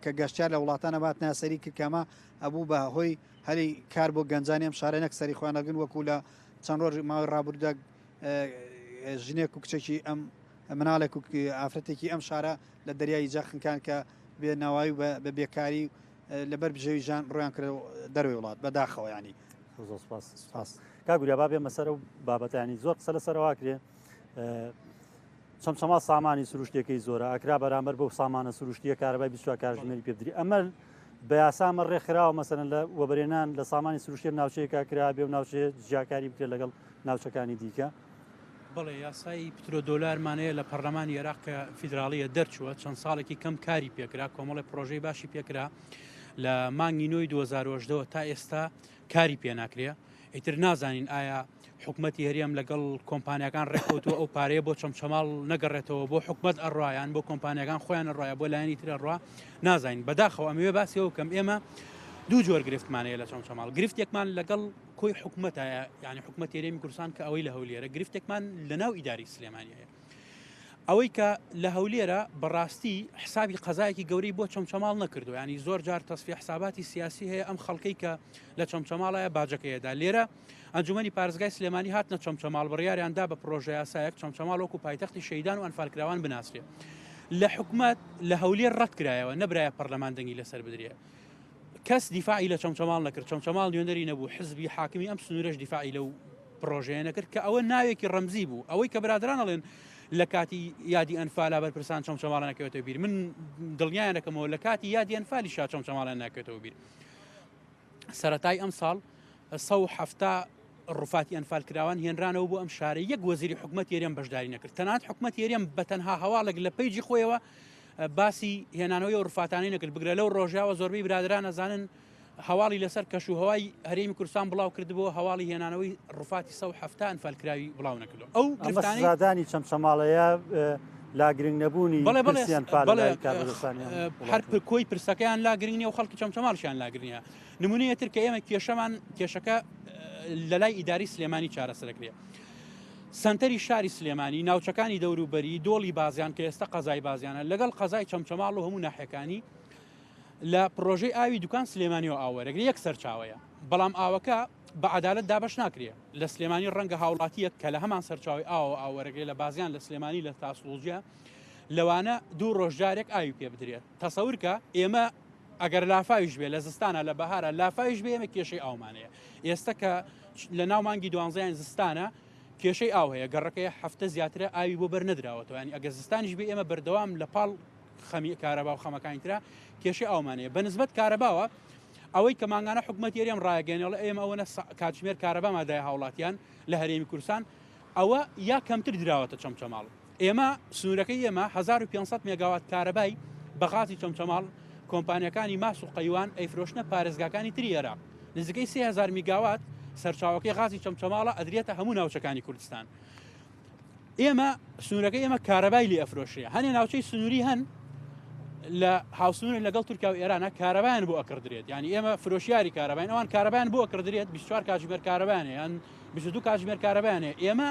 کە گەشتار لە وڵاتانە بات ناسەری کردکەمە ئەبوو بە هۆی هەلی کار بۆ گەنجانی ئەم شارە نەک سەری خوێنەگەن وەکو لە چەند ڕۆژ ماوە ڕابردە ژنێک و کچێکی ئەم مناڵێک و ئافرەتێکی ئەم شارە لە دەریایی جەخنکان کە بێ ناوایی بە بێکاری و لەبەر بژێوی ژان ڕویان کرد دەروی وڵات بە داخەوە ینی زۆر سپاس سپاس کاگوریا با بێمە سەر و بابەتانی زۆر قسە لە سەروا کرێ چەمچەما سامانی سروشتەکەی زۆرە ئاکرا بەرامبەر بەو سامانە سروشتیە کارەبای بیسوا کارژمێری پێدری ئەمە بە یاسامە ڕێکخراوە مەسەن لە وەبرێنان لە سامانی سروشتێن ناوچەیەکە کرا بێ و ناوچێ جیاکاری بکرێت لەگەڵ ناوچەکانی دیکە بەڵێ یاسای پترۆدۆلارمان هەیە لە پەرلەمانی عێراق کە فیدراالیە دەرچووە چەند ساڵێکی کەم کاری پێکرا کۆمەڵی پرۆژەی باشی پێکرا لە مانگی نۆی 2010ەوە تا ئێستا کاری پێناکرێ ئیتر نازانین ئایا حکوومەتتی هەرێم لەگەڵ کۆمپانیەکان ڕێکوتوە ئەو پارەیە بۆ چەمچەماڵ نەگەڕێتەوە بۆ حکومت ئەڕایان بۆ کۆمپانیەکان خۆیان ڕایە بۆ لایەنی ترە ڕوا نازانین بەداخەوە ئەمەوێ باسیەوە کەم ئێمە دوو جۆر گرفتمانەیە لە چەمچەماڵ گرفتێکمان لەگەڵ کۆی حکومەتە یعنی حکومەت تێرێمی کوردستان کە ئەوەی لە هەولێرە گرفتێکمان لە ناو ئیداری سلێمانیە ئەوەی کە لە هەولێرە بەڕاستی حسابی قەزایەکی گەورەی بۆ چەمچەماڵ نەکردو ینی زۆر جار تەسفی حساباتی سیاسی هەیە ئەم خەڵکەی کە لە چەمچەماڵایە باجەکەیەدا لێرە ئەنجومی پارێزگای سلێمانی هات نە چەمچەماڵ بڕیاریاندا بە پرۆژه یاسایەک چەمچەماڵ وەکو پایتەختی شەیدان و ئەنفالکراوان بناسرێ لە حکومت لە هەولێر ڕەتکرایەوە نەبرایە پەرلەمان دەنگی لەسەر بدرێت کەس دیفاعی لە چەمچەماڵ نەکرد، چەمچەماڵ نوێنەری نەبوو، حزبی حاکمی ئەم سنوورەش دیفاعی لەو پڕۆژەیە نەکرد، کە ئەوە ناوێکی ڕەمزی بوو، ئەوەی کە برادران ئەڵێن لە کاتی یادی ئەنفالا بەرپرسان چەمچەماڵە نەکەوێتەوە بیر، من دڵنیایان دەکەمەوە لە کاتی یادی ئەنفالیشا چەمچەماڵیان ناکەوێتەوە بیر. سەرەتای ئەم ساڵ 170 ڕوفاتی ئەنفال کراوان هێنرانەوە بۆ ئەم شارە یەک وەزیری حکومەت یەرێم بەشداری نەکرد تەنات حکومەت یەرێم بە تەنها هەواڵێک لە پەیجی خۆیەوە باسی هێنانەوەی ئەو رفاتانەی نەکرد بگرە لەو رۆژاوە زۆربەی برادران ئەزانن هەواڵی لەسەر کەش و هەوای هەرێمی کوردستان بڵاو کردبوو هەواڵی هێنانەوەی رفاتی سە هەفتان فەلکراوی بڵاو نەکردو ئەو گرفتانی چەمچەماڵەیە لا گرنگ نەبوونی هەر کۆی پرسەکەیان لا گرنگنی و خەڵکی چەمچەماڵشیان لاگرنیە نمونەیە تر کە ئێمە کێشەمان کێشەکە لە لای ئیداری سلێمانی چارەسەرەکرێ سەنتەری شاری سلێمانی، ناوچەکانی دەوروبەری، دۆڵی بازیان کە ئێستا قەزای بازیانە، لەگەڵ قەزای چەمچەماڵ و هەموو ناحیەکانی لە پڕۆژەی ئاوی دوکان سلێمانیەوە ئاوەرەگری یەک سەرچاوەیە بەڵام ئاوەکە بە عدالت دابش ناکرێ لە سلێمانی ڕەنگە هاوڵاتیەک کە لە هەمان سەرچاوی ئاوە ئاوەرەگرێ لە بازیان لە سلێمانی لە تاسڵوجە لەوانە دوو ڕۆژجارێک ئاوی پێ بدرێت تەسەورکە ئێمە ئەگەر لافاویش بێ لە زستانە لە بەهارە لافاویش بێ ئێمە کێشەی ئاومان هەیە ئێستا کە لە ناو مانگی دوانزیان زستانە کێشەی ئاو هەیە گەڕەکەی هەفتە زیاترە ئاوی بۆ بەر نەدراوەتەوە ینی ئەگە زستانیش بێ ئێمە بەردەوام لە پاڵ خەمی کارەبا و خەمەکانی تررا کێشی ئاومانەیە بە نسبت کارەباوە ئەوەی کە ماگانە حکوومەت یەریم ڕایگەێنەڵ ئێمە ئەوە کاتژمێر کارەبا مادای هاوڵاتیان لە هەرێمی کورسان ئەوە یا کەمتر دراوەتە چەمچەماڵ ئێمە سنوورەکەی ئێمە هەزار و پێنج سەد مێگاوات کارەبای بە غازی چەمچەماڵ، کۆمپانیاکانی ماس و قەیوان ئەیفرۆشنە پارێزگاکانی تری ئێراق. نزیکەی سێ هەزار میگاوات سەرچاوەکەی غازی چەمچەماڵە ئەدرێتە هەموو ناوچەکانی کوردستان. ئێمە سنوورەکەی ئێمە کارەبای لێ ئەفرۆشرێ. هەنێ ناوچەی سنووری هەن لە هاوسنوورن لەگەڵ تورکیا و ئێرانە کارەبایان بۆ ئەکڕدرێت. یانی ئێمە فرۆشیاری کارەباین، ئەوان کارەبایان بۆ ئەکڕدرێت 24 کاتژمێر کارەبایان هەیە. بیست و دوو کاتژمێر کارەبایان هەیە ئێمە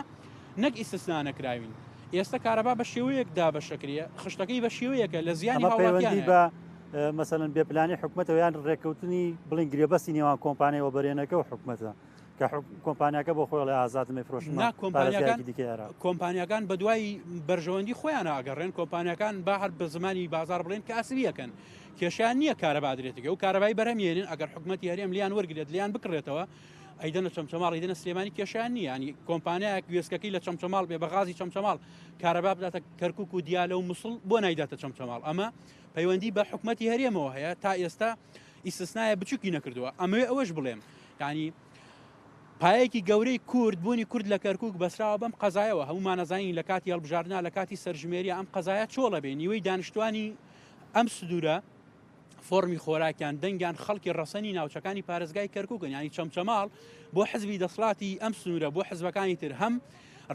نەک ئیسسنا نەکراوین ئێستا کارەبا بە شێوەیەک دابەشەکریە خشتەکەی بە شێوەیەکە لە زیانی هاوڵاتی بە مەسەن بێپلانی حکوومەتەوە یان ڕێککەوتنی بڵین گرێبەستی نێوان کۆمپانیەوە بەرێنەکە و حکوومەتە کە کۆمپانیاکە بۆ خۆی لە ئازادمە فرۆشن کۆمپانیەکانی دیکەێرە کۆمپانیەکان بە دوای بەرژەوەندی خۆیان ئاگەڕێن کۆمپانیەکان با هەر بە زمانی بازار بڵێن کاسریەکەن کێشیان نییە کارە بادرێتەکە و کارەبای بەرەمیێنن ئەگەر حکوومەت یاریێم لیان وەرگێت لیان بکڕێتەوە ئەیدەنە چەمچەماڵ ئیدەنە سلێمانی کێشیان نییە ینی کۆمپانیایەک وێسکەکەی لە چەمچەماڵ بێ بەغازی چەمچەماڵ کارەبا بداتە کەرکک و دیالە و مسڵ بۆ نایداتە چەمچەماڵ ئەمە پەیوەندی بە حکوومەتتی هەرێمەوە هەیە تا ئێستا ئیسسنایە بچووکی نەکردووە ئەمەوێ ئەوەش بڵێم ینی پایەکی گەورەی کورد بوونی کورد لە کەرکک بەسراوە بەم قەزایەوە هەمومانەزانین لە کاتی هەڵبژاردنا لە کاتی سەرژمێری ئەم قەزایە چۆڵە بێ نیوەی دانیشتوانی ئەم سنوورە فۆڕمی خۆراکیان دەنگیان خەڵکی ڕەسەنی ناوچەکانی پارێزگای کەرکووکن یانی چەمچەماڵ بۆ حزبی دەسڵاتی ئەم سنوورە بۆ حزبەکانی تر هەم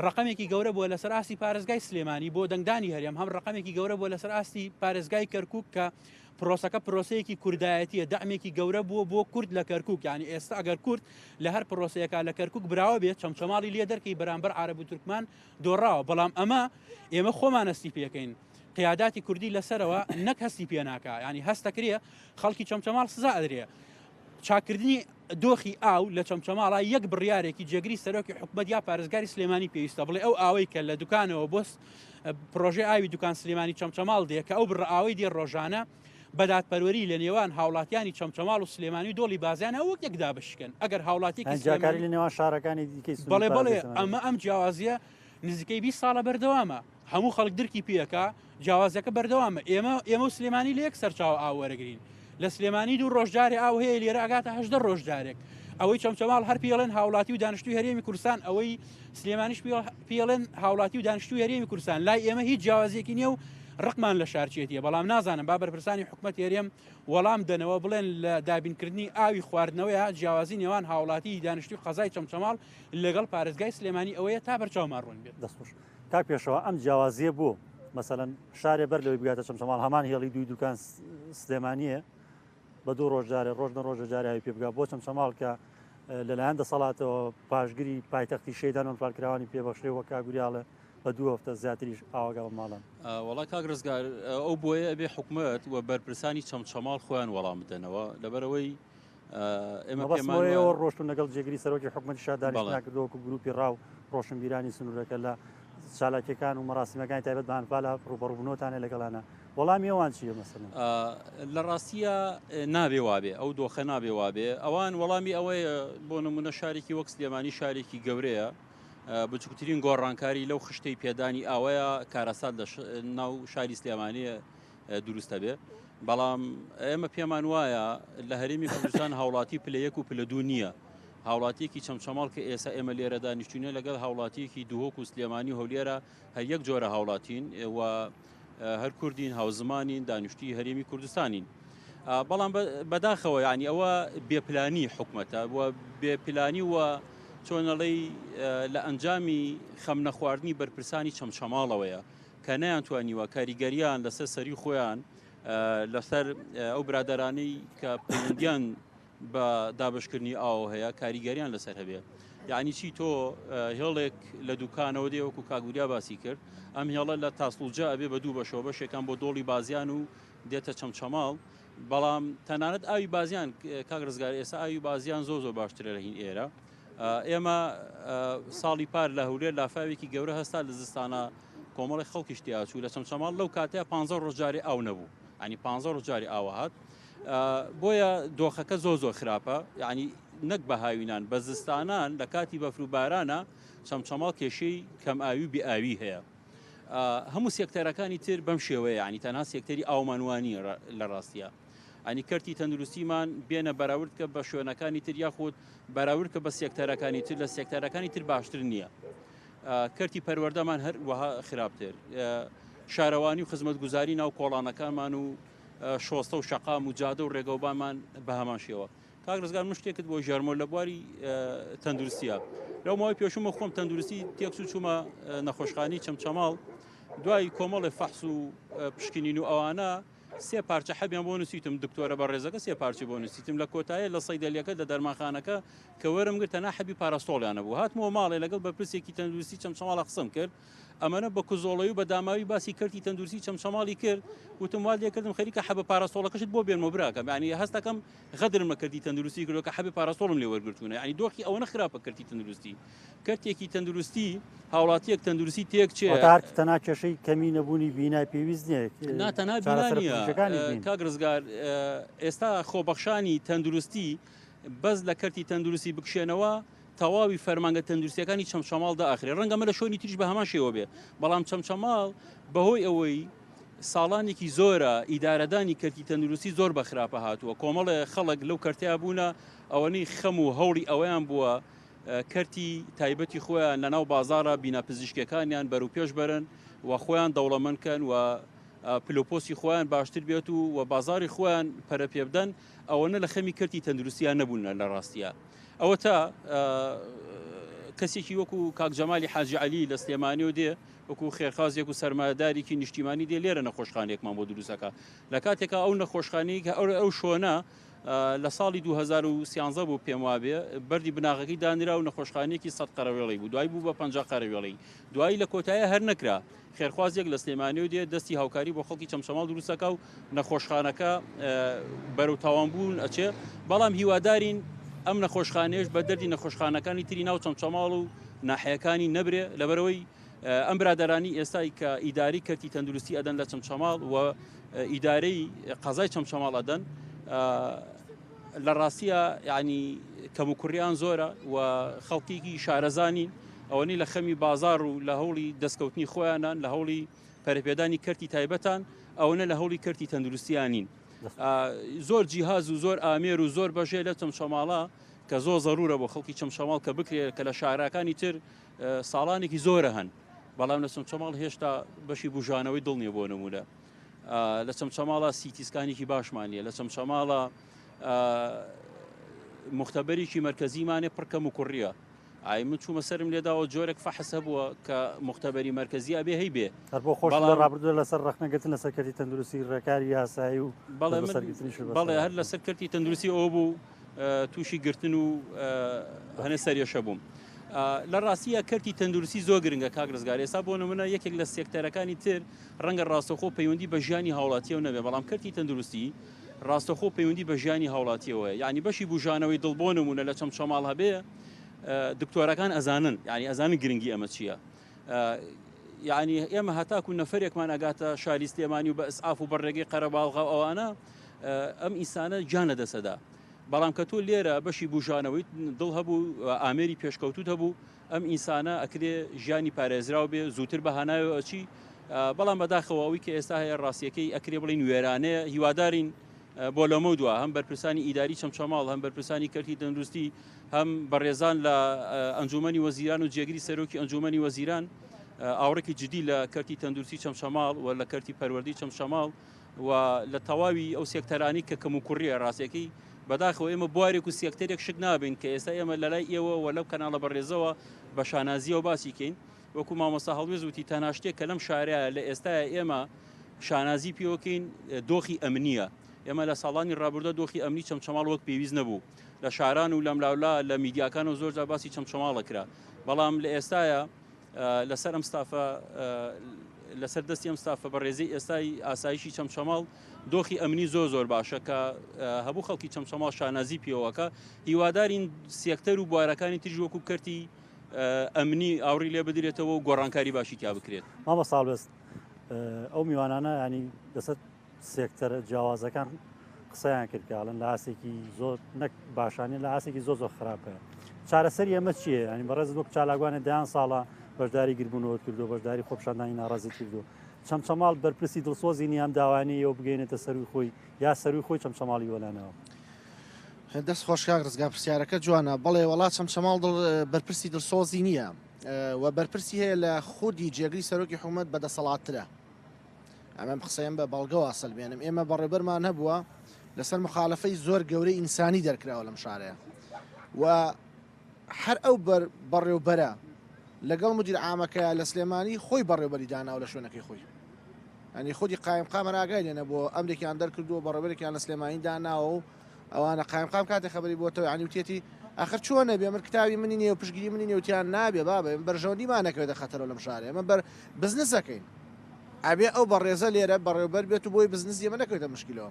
ڕقمێکی گەورە بووە لەسەر ئاستی پارێزگای سلێمانی بۆ دەنگدانی هەرێم هەم ڕقمێکی گەورە بووە لەسەر ئاستی پارێزگای کەرکک کە پرۆسەکە پرۆسەیەکی کوردایەتیە دامێکی گەورە بووە بۆ کورد لە کەرکک ینی ئێستا ئەگەر کورد لە هەر پرۆسەیەەکە لە کەرکک براوە بێت چەمچەماڵی لێ دەرکەی بەرامبەر عرب و تورکمان دۆڕاوە بەڵام ئەمە ئێمە خۆمانەستی پێکەین قیاداتی کوردی لەسەرەوە نەک هەستی پێناکە ینی هەستەکرێ خەڵکی چەمچەماڵ سزا ئەدرێ چاکردنی دۆخی ئاو لە چەمچەماڵا یەک بڕارێکی جێگری سەرۆکی حکومت یا پارێزگاری سلێمانی پێویستە بڵێ ئەو ئاوەی کە لە دوکانەوە بۆست پرۆژه ئاوی دوکان سلێمانی چەمچەماڵ دێ کە ئەو بڕئاوی دێ ڕۆژانە بەدادپەروەری لە نێوان هاوڵاتیانی چەمچەماڵ و سلێمانی و دۆڵی بازیان ئەوەک یەکدا بشکن ئەگەر هاوڵاتی جاکاری لە نێوان شارەکانی دیکەی بڵێ بڵێ ئەمە ئەم جیاوازیە نزیکەی 20 ساڵە بەردەوامە هەموو خەڵک درکی پێکا جیاوازەکە بەردەوامە ئێمە ئێمە و سلێمانی لە یەک سەرچاو ئاو وەرەگرین لە سلێمانی دوو ڕۆژجارێ ئاو هەیە لێرە ئەگاتە هەشدە ڕۆژجارێک ئەوەی چەمچەماڵ هەر پێڵێن هاوڵاتی و دانیشتوی هەرێمی کوردستان ئەوەی سلێمانیش پێڵێن هاوڵاتی و دانیشتوی هەرێمی کوردستان لای ئێمە هیچ جیاوازێکی نیە و ڕقمان لە شارچێتیە بەڵام نازانم با بەرپرسانی حکوومەت هێرێم وەڵام دەنەوە بڵێن لە دابینکردنی ئاوی خواردنەوەیە جیاوازی نێوان هاوڵاتی دانیشتوی قەزای چەمچەماڵ لەگەڵ پارێزگای سلێمانی ئەوەیە تا بەرچاومان ڕوون بێت دەستخۆش. کاک پێشەوا ئەم جیاوازیە بۆ؟ مەسەلەن شارێ بەر لەوەی بگاتە چەمچەماڵ هەمان هێڵی دووی دوکان سلێمانیە بە دوو ڕۆژ جارێ ڕۆژ نە ڕۆژە جاراوی پێ بگا بۆ چەمچەماڵ کە لەلایەن دەسەڵاتەوە پاشگری پایتەختی شەیدان و پارکراوانی پێبەخشێ وە کاگوریاڵە بە دوو هەفتە زیاتریش ئاواگا بە ماڵان وڵا کاک ڕزگار ئەو بۆیە ئەبێ حکومت و بەرپرسانی چەمچەماڵ خۆیان وەڵام بدەنەوە لەبەرەوەی ئێمەەوە ڕۆشتون لەگەڵ جێگری سەرۆکی حکومەتی شادانیشناکردەوەکو گروپی ڕاو ڕۆشنبیرانی سنوورەکە لە چالاکیەکان و مەراسیمەکانی تایبەت بانپالا ڕوبەڕبنەوەتانە لەگەڵانە وەڵامی ئەوان چیە مەسن لە ڕاستیە نابێ وابێ ئەو دۆخە نابێ وابێ ئەوان وەڵامی ئەوەیە بۆ نمونە شارێکی وەک سلێمانی شارێکی گەورەیە بچکترین گۆڕانکاری لەو خشتەی پێدانی ئاوەیە کارەسات لە ناو شاری سلێمانەیە دروستە بێ بەڵام ئێمە پێمان وایە لە هەرێمی کوردستان هاوڵاتی پلە یەک و پلە دوو نییە هاوڵاتیەکی چەمچەماڵ کە ئێستا ئێمە لێرە دانیشتونە لەگەڵ هاوڵاتیەکی دوهۆک و سلێمانی هەولێرە هەر یەک جۆرە هاوڵاتین و هەر کوردین هاوزمانین دانیشتی هەرێمی کوردستانین. بەڵام بەداخەوە ینی ئەوە بێپلانی حکومەتە بێپلانی و چۆنەڵی لە ئەنجامی خەم نەخواردنی بەرپرسانی چەمچەماڵەوەیە کە نەیانتوانیوە کاریگەریان لەسەر سەری خۆیان لەسەر ئەو برادرانەی کە پەیوەندیان بە دابشکردنی ئاو هەیە کاریگەریان لەسەر هەبێ یعنی چی تۆ هێڵێک لە دوکانەوە دێوەکو کاگوریا باسی کرد ئەم هێڵە لە تاسڵجا ئەبێ بە دوو بەشەوە بەشێکان بۆ دۆڵی بازیان و دێتە چەمچەماڵ بەڵام تەنانەت ئاوی بازیان کاک ڕزگار ئێستا ئاوی بازیان زۆ زۆر باشترە لە هین ئێرە ئێمە ساڵی پار لە هەولێر لافاوێکی گەورە هەستا لە زستانە کۆمەڵی خەڵکیش تیاچوو لە چەمچەماڵ لەو کاتەیە پ ڕۆژجاری ئاو نەبوو ئەنی پ ڕۆژجاری ئاوهات بۆیە دۆخەکە زۆ زۆر خراپە یعنی نەک بە هاوینان بە زستانان لە کاتی بەفر و بارانە چەمچەماڵ کێشەی کەم ئاوی و بئاوی هەیە هەموو سێکتەرەکانی تر بەم شێوەیە ینی تەنها سێکتەری ئاومانوانی لە ڕاستە یانی کەرتی تەندروستیمان بێنە بەراورد کە بە شوێنەکانی تر یاخود بەراورد کە بە سێکتەرەکانی تر لە سێکتەرەکانی تر باشتر نییە کەرتی پەروەەردەمان هەر وەها خراپتر شارەوانی و خزمەت گوزاری ناو کۆڵانەکانمان و شۆستە و شەقام و جادە و ڕێگەوبانمان بە هەمان شێوە کاک ڕزگار من شتێکت بۆ ژەرمۆ لە بواری تەندروستە لەو ماوەی پێشومە خۆم تەندروستی تێکس و چوومە نەخۆشخانی چەمچەماڵ دوای کۆمەڵی فەحس و پشکنین و ئەوانە سێ پارچە حەبیان بۆ نوسیوتم دکتۆرە بەڕێزەکە سێ پارچەی بۆ نوسیتم لە کۆتایە لە سەیدەلیەکە لە دەرمانخانەکە کە وەرم گرت تەنها حەبی پاراستۆڵیان نەبوو هاتمەوە ماڵێ لەگەڵ بەرپرسێکی تەندروستی چەمچەماڵە قسەم کرد ئەمەنە بە کزۆڵەی و بە داماوی باسی کەرتی تەندروستی چەمچەماڵی کرد وتم وا لێکردم خەریکە حەبە پاراستۆڵەکەشت بۆ بێنمەوە براکەم یعنی هەستەکەم غەدرم بە کەرتی تەندروستی کردوە کە حەبی پاراستۆڵم لێ وەرگرتونە یعنی دۆخی ئەوەنە خراپە کەرتی تەندروستی کەرتێکی تەندروستی هاوڵاتیەک تەندروستی تێک چێ تەنا کێشەی کەمی نەبوونی بینای پێویست نیە ناتەنا کاک ڕزگار ئێستا خۆبەخشانی تەندروستی بەس لە کەرتی تەندروستی بکشێنەوە تەواوی فەرمانگە تەندروستییەکانی چەمچەماڵ دائەخرێت، ڕەنگە ئەمە لە شوێنی تریش بە هەمان شێوە بێت، بەڵام چەمچەماڵ بەهۆی ئەوەی ساڵانێکی زۆرە ئیدارەدانی کەرتی تەندروستی زۆر بە خراپە هاتووە، کۆمەڵێ خەڵک لەو کەرتە بوونە، ئەوەنەی خەم و هەوڵی ئەوەیان بووە کەرتی تایبەتی خۆیان لە ناو بازاڕە بینا پزیشکییەکانیان بەروپێش بەرن و خۆیان دەوڵەمەند کەن و پلەوپۆستی خۆیان باشتر بێت و بازاڕی خۆیان پەرە پێبدەن، ئەوەنە لە خەمی کەرتی تەندروستیان نەبوون لە ڕاستیا ئەوەتا کەسێکی وەکو کاک جەمالی حاجی علی لە سلێمانیەوە دێ وەکو خێرخوازێک و سەرمایەدارێکی نیشتیمانی دێ لێرە نەخۆشخانێکمان بۆ دروستەکە لە کاتێکا ئەو نەخۆشخانی کە ئەو ئەو شۆنە لە ساڵی 2013 بوو پێم وابێ بەری بناغەکەی دانرا و نەخۆشخانێکی سەد قەرەوێڵی بوو دوای بوو بە پ قەرەوێڵی دوایی لە کۆتایە هەر نەکرا خێرخوازێک لە سلێمانیەوە دێت دەستی هاوکاری بۆ خەڵکی چەمچەماڵ دروستەکە و نەخۆشخانەکە بەرەو تاوانبوون ئەچێ بەڵام هیوادارین ئەم نەخۆشخانێش بە دەردی نەخۆشخانەکانی تری ناو چەمچەماڵ و ناحەکانی نەبرێ لەبەرەوەی ئەم برادرانی ئێستای کە ئیداری کەرتی تەندروستی ئەدەن لە چەمچەماڵ و ئیدارەی قەزای چەمچەماڵ ئەدەن لە ڕاستیا یانی کەم و کوڕیان زۆرە و خەڵکیکی شارەزانین ئەوەنی لە خەمی بازار و لە هەوڵی دەستکەوتنی خۆیانان لە هەوڵی پەرپێدانی کەرتی تایبەتان ئەوەنە لە هەوڵی کەرتی تەندروستیانین زۆر جیهاز و زۆر ئامێر و زۆر بەژێ لە چەمچەماڵە کە زۆر زەرورە بۆ خەڵکی چەمچەماڵ کە بکرێت کە لە شاراکانی تر ساڵانێکی زۆرە هەن بەڵام لە چەمچەماڵ هێشتا بەشی بژانەوەی دڵنیە بۆ نمونە لە چەمچەماڵە سیتی سکانێکی باشمان نیە لە چەمچەماڵە مختبەرێکی مەرکزیمانێ پڕکەم و کوڕیە ئای من چوومە سرم لێداوە جۆرێک فەحس هەبووە کە مختبەری مەرکزی ئەبێ هەی بێ هەر بۆ خۆش لە ڕابردوو لەسەر ڕخنەگەتن لە سەرکەتی تەندروستی ڕێکاری یاسایی و بەڵێ هەر لە سەرکەتی تەندروستی ئەو بوو تووشی گرتن و هەنێ سەرێشە بووم. لە ڕاستیە کەرتی تەندروستی زۆر گرنگە کاک ڕزگار ئێستا بۆ نمونە یەکێک لە سێکتەرەکانی تر ڕەنگە ڕاستەوخۆ پەیوەندی بە ژیانی هاوڵاتیەوە نەبێ بەڵام کەرتی تەندروستی ڕاستەخۆ پەیوەندی بە ژیانی هاوڵاتیەوەیە یعنی بەشی بژانەوەی دڵ بۆ نمونە لە چەم چەماڵ هەبێ دکتۆرەکان ئەزانن یعنی ئەزانن گرنگی ئەمە چییە یعنی ئێمە هەتاکو نەفرێکمان ئەگاتە شاری سلێمانی و بە ئسعاف و بەڕێگەی قەرەباڵغا ئەوانە ئەم ئینسانە گیان لە دەسەدا بەڵام کە تۆ لێرە بەشی بژانەوەی دڵ هەبوو ئامێری پێشکەوتوت هەبوو ئەم ئینسانە ئەکرێ ژیانی پارێزراو بێ زووتر بە هانایەوە ئەچی بەڵام بەداخەوە ئەوی کە ئێستا هەیە ڕاستیەکەی ئەکرێ بڵین وێرانەیە هیوادارین بۆ لەمە دووە هەم بەرپرسانی ئیداری چەمچەماڵ هەم بەرپرسانی کەرتی دەندروستی هەم بەڕێزان لە ئەنجومنی وەزیران و جێگری سەرۆکی ئەنجومنی وەزیران ئاوڕێکی جدی لە کەرتی تەندروستی چەمچەماڵ و لە کەرتی پەروەردی چەمچەماڵ و لە تەواوی ئەو سێکتەرانەی کە کەموکوڕییە ڕاستەکەی بەداخەوە ئێمە بوارێک و سێکتەرێک شک نابین کە ئێستا ئێمە لەلای ئێوە و لەو کەناڵە بەڕێزەوە بە شانازیەوە باسی کەین وەکو مامۆستا هەڵوێز وتی تەنها شتێک کە لەم شارەیە لە ئێستاە ئێمە شانازی پێوەکەین دۆخی ئەمنیە ئێمە لە ساڵانی ڕابوردە دۆخی ئەمنی چەمچەماڵ وەک پێویست نەبوو لە شاران و لەملاولا لە میدیاکان و زۆرجار باسی چەمچەماڵە کرا بەڵام لە ئێستاە لەسەر ئەم ستافە لەسەر دەستی ئەم ستافە بەڕێزی ئێستای ئاسایشی چەمچەماڵ دۆخی ئەمنی زۆر زۆر باشە کە هەبوو خەڵکی چەمچەماڵ شانازی پێوەکە هیوادارین سێکتەر و بوارەکانی تریژ وەکو کەرتی ئەمنی ئاوری لێ بدرێتەوە و گۆڕانکاری باشی تیا بکرێت مامە ساڵبست ئەو میوانانە ینی دەسەت سێکتەرە جیاوازەکان قسەیان کرد کە ئەڵەن لە ئاسێکی زۆر نەک باشانە لە ئاسێکی زۆ زۆر خراپە چارەسەر ئەمە چیە ینی بەڕێز وەک چالاگوانە دایان ساڵە بەشداری گربوونەوە کردو بەشداری خۆپشاندانی ناڕازی کردو چەمچەماڵ بەرپرسی دڵسۆزی نیام داوانەیە و بگەینێتە سەروی خۆی یا سەروی خۆی چەمچەماڵی وەلانەوە دەست خۆشکاک ڕزگا پرسیارەکە جوانە بەڵێ وڵات چەمچەماڵ بەرپرسی دڵسۆزی نییە و بەرپرسی هەیە لە خودی جێگری سەرۆکی حکوومەت بەدەسەڵاتترە ئەمەم قسەیەم بە بەڵگە واسەلمێنم ئێمە بەڕێبەرمان هەبووە لەسەر مخالفەی زۆر گەورەی ئینسانی دەرکراوە لەم شارەیە و هەر ئەو بەر بەڕێوبەرە لەگەڵ مدیر ئامەکە لە سلێمانی خۆی بەڕێبەری داناو لە شوێنەکەی خۆی ئەنی خودی قایم قامەراگای لێنە بۆ ئەمریکیان دەرکردووە بەڕێبەرێکیان لە سلێمانی داناوە و ئەوانە قایمقام کاتێ خەبەری بۆتەوە عنی وتێتی ئەخر چۆن نەبێ من کتاوی منی نێو پشگیری منی نێوتیان نابێ بابێ بەرژەوەندی مانەکەێتە خەتەرە لەم شارێ ئەمە بەر بزنسەکەین ئەبێ ئەو بەڕێزە لێرە بەڕێوبەر بێت و بۆی بزنس ئێمە نەکەوێتە مشکلەوە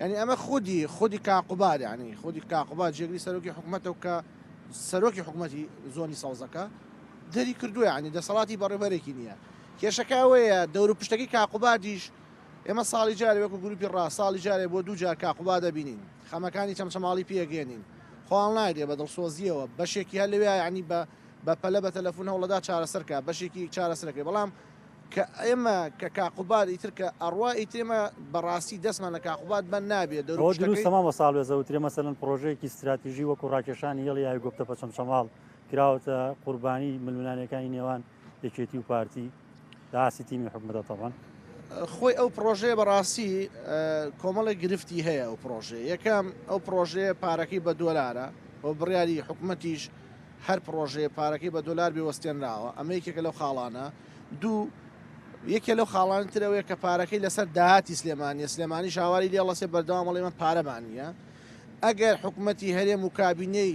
ینی ئەمە خودی خودی کاقوباد ینی خودی کاقوبات جێگری سەرۆکی حکوومەتە و کە سەرۆکی حکوومەتی زۆنی سەوزەکە دەری کردووە ینی دەسەڵاتی بەڕێبەرێکی نییە کێشەکە ئەوەیە دەور و پشتەکەی کاقوبادیش ئێمە ساڵی جارێ وەکو گروپی ڕا ساڵی جارێ بۆ دوو جار کاک قوباد دەبینین، خەمەکانی چەمچەماڵی پێکێنین، خۆاڵ نایدێ بە دڵسۆزییەوە، بەشێکی هەر لەوێ یانی بە بە پەلە بە تەلەفون هەوڵەدا چارەسەر کا، بەشێکی چارەسەر کرد، بەڵام کە ئێمە کە کاک قوباد ئیتر کە ئەڕوا ئیتر ئێمە بە ڕاستی دەسمان لە کاک قوباد بەند نابێ، دەور و ئەوە دروستە پشتەکەی. مامۆستا هەڵوێستە وترێ مەسەلەن پڕۆژەیەکی ستراتیژی وەکو ڕاکێشانی هێڵی ئاوی گۆپتەپە چەمچەماڵ کراوەتە قوربانی ململانێکانی نێوان یەکێتی و پارتی، لەئاستی تیمی حکومەتە تەبەن. خۆی ئەو پڕۆژەیە بەڕاستی کۆمەڵێک گرفتی هەیە ئەو پڕۆژەیە یەکەم ئەو پڕۆژەیە پارەکەی بە دۆلارە بۆ بڕیاری حکوومەتیش هەر پڕۆژەیە پارەکەی بە دۆلار بێ وەستێنراوە ئەمە یەکێکە لەو خاڵانە دوو یەکێ لەو خاڵان ترەوەیە کە پارەکەی لەسەر داهاتی سلێمانە سلێمانی شاواری لێڵەسێ بەردەوامەڵی من پارەمانە ئەگەر حکوومەتی هەرێم و کابینەی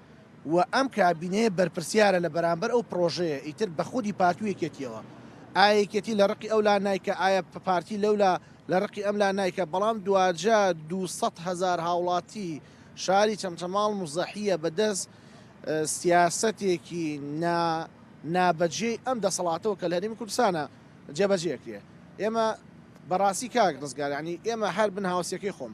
و ئەم کابینەیە بەرپرسیارە لە بەرامبەر ئەو پڕۆژەیە ئیتر بە خودی پارتی و یەکێتیەوە ئایا یەکێتی لە ڕقی ئەو لا نایکا ئایا پارتی لەو لا لە ڕقی ئەم لا نایکا بەڵام دواجا دوو سەد هەزار هاوڵاتی شاری چەمچەماڵ موزەحیە بە دەست سیاسەتێکی نا نابەجێی ئەم دەسەڵاتەوە کە لە هەرێمی کوردستانە جێبەجێ ئەکرێ ئێمە بەڕاستی کاک ڕزگار یانی ئێمە هەر بن هاوسیەکەی خۆم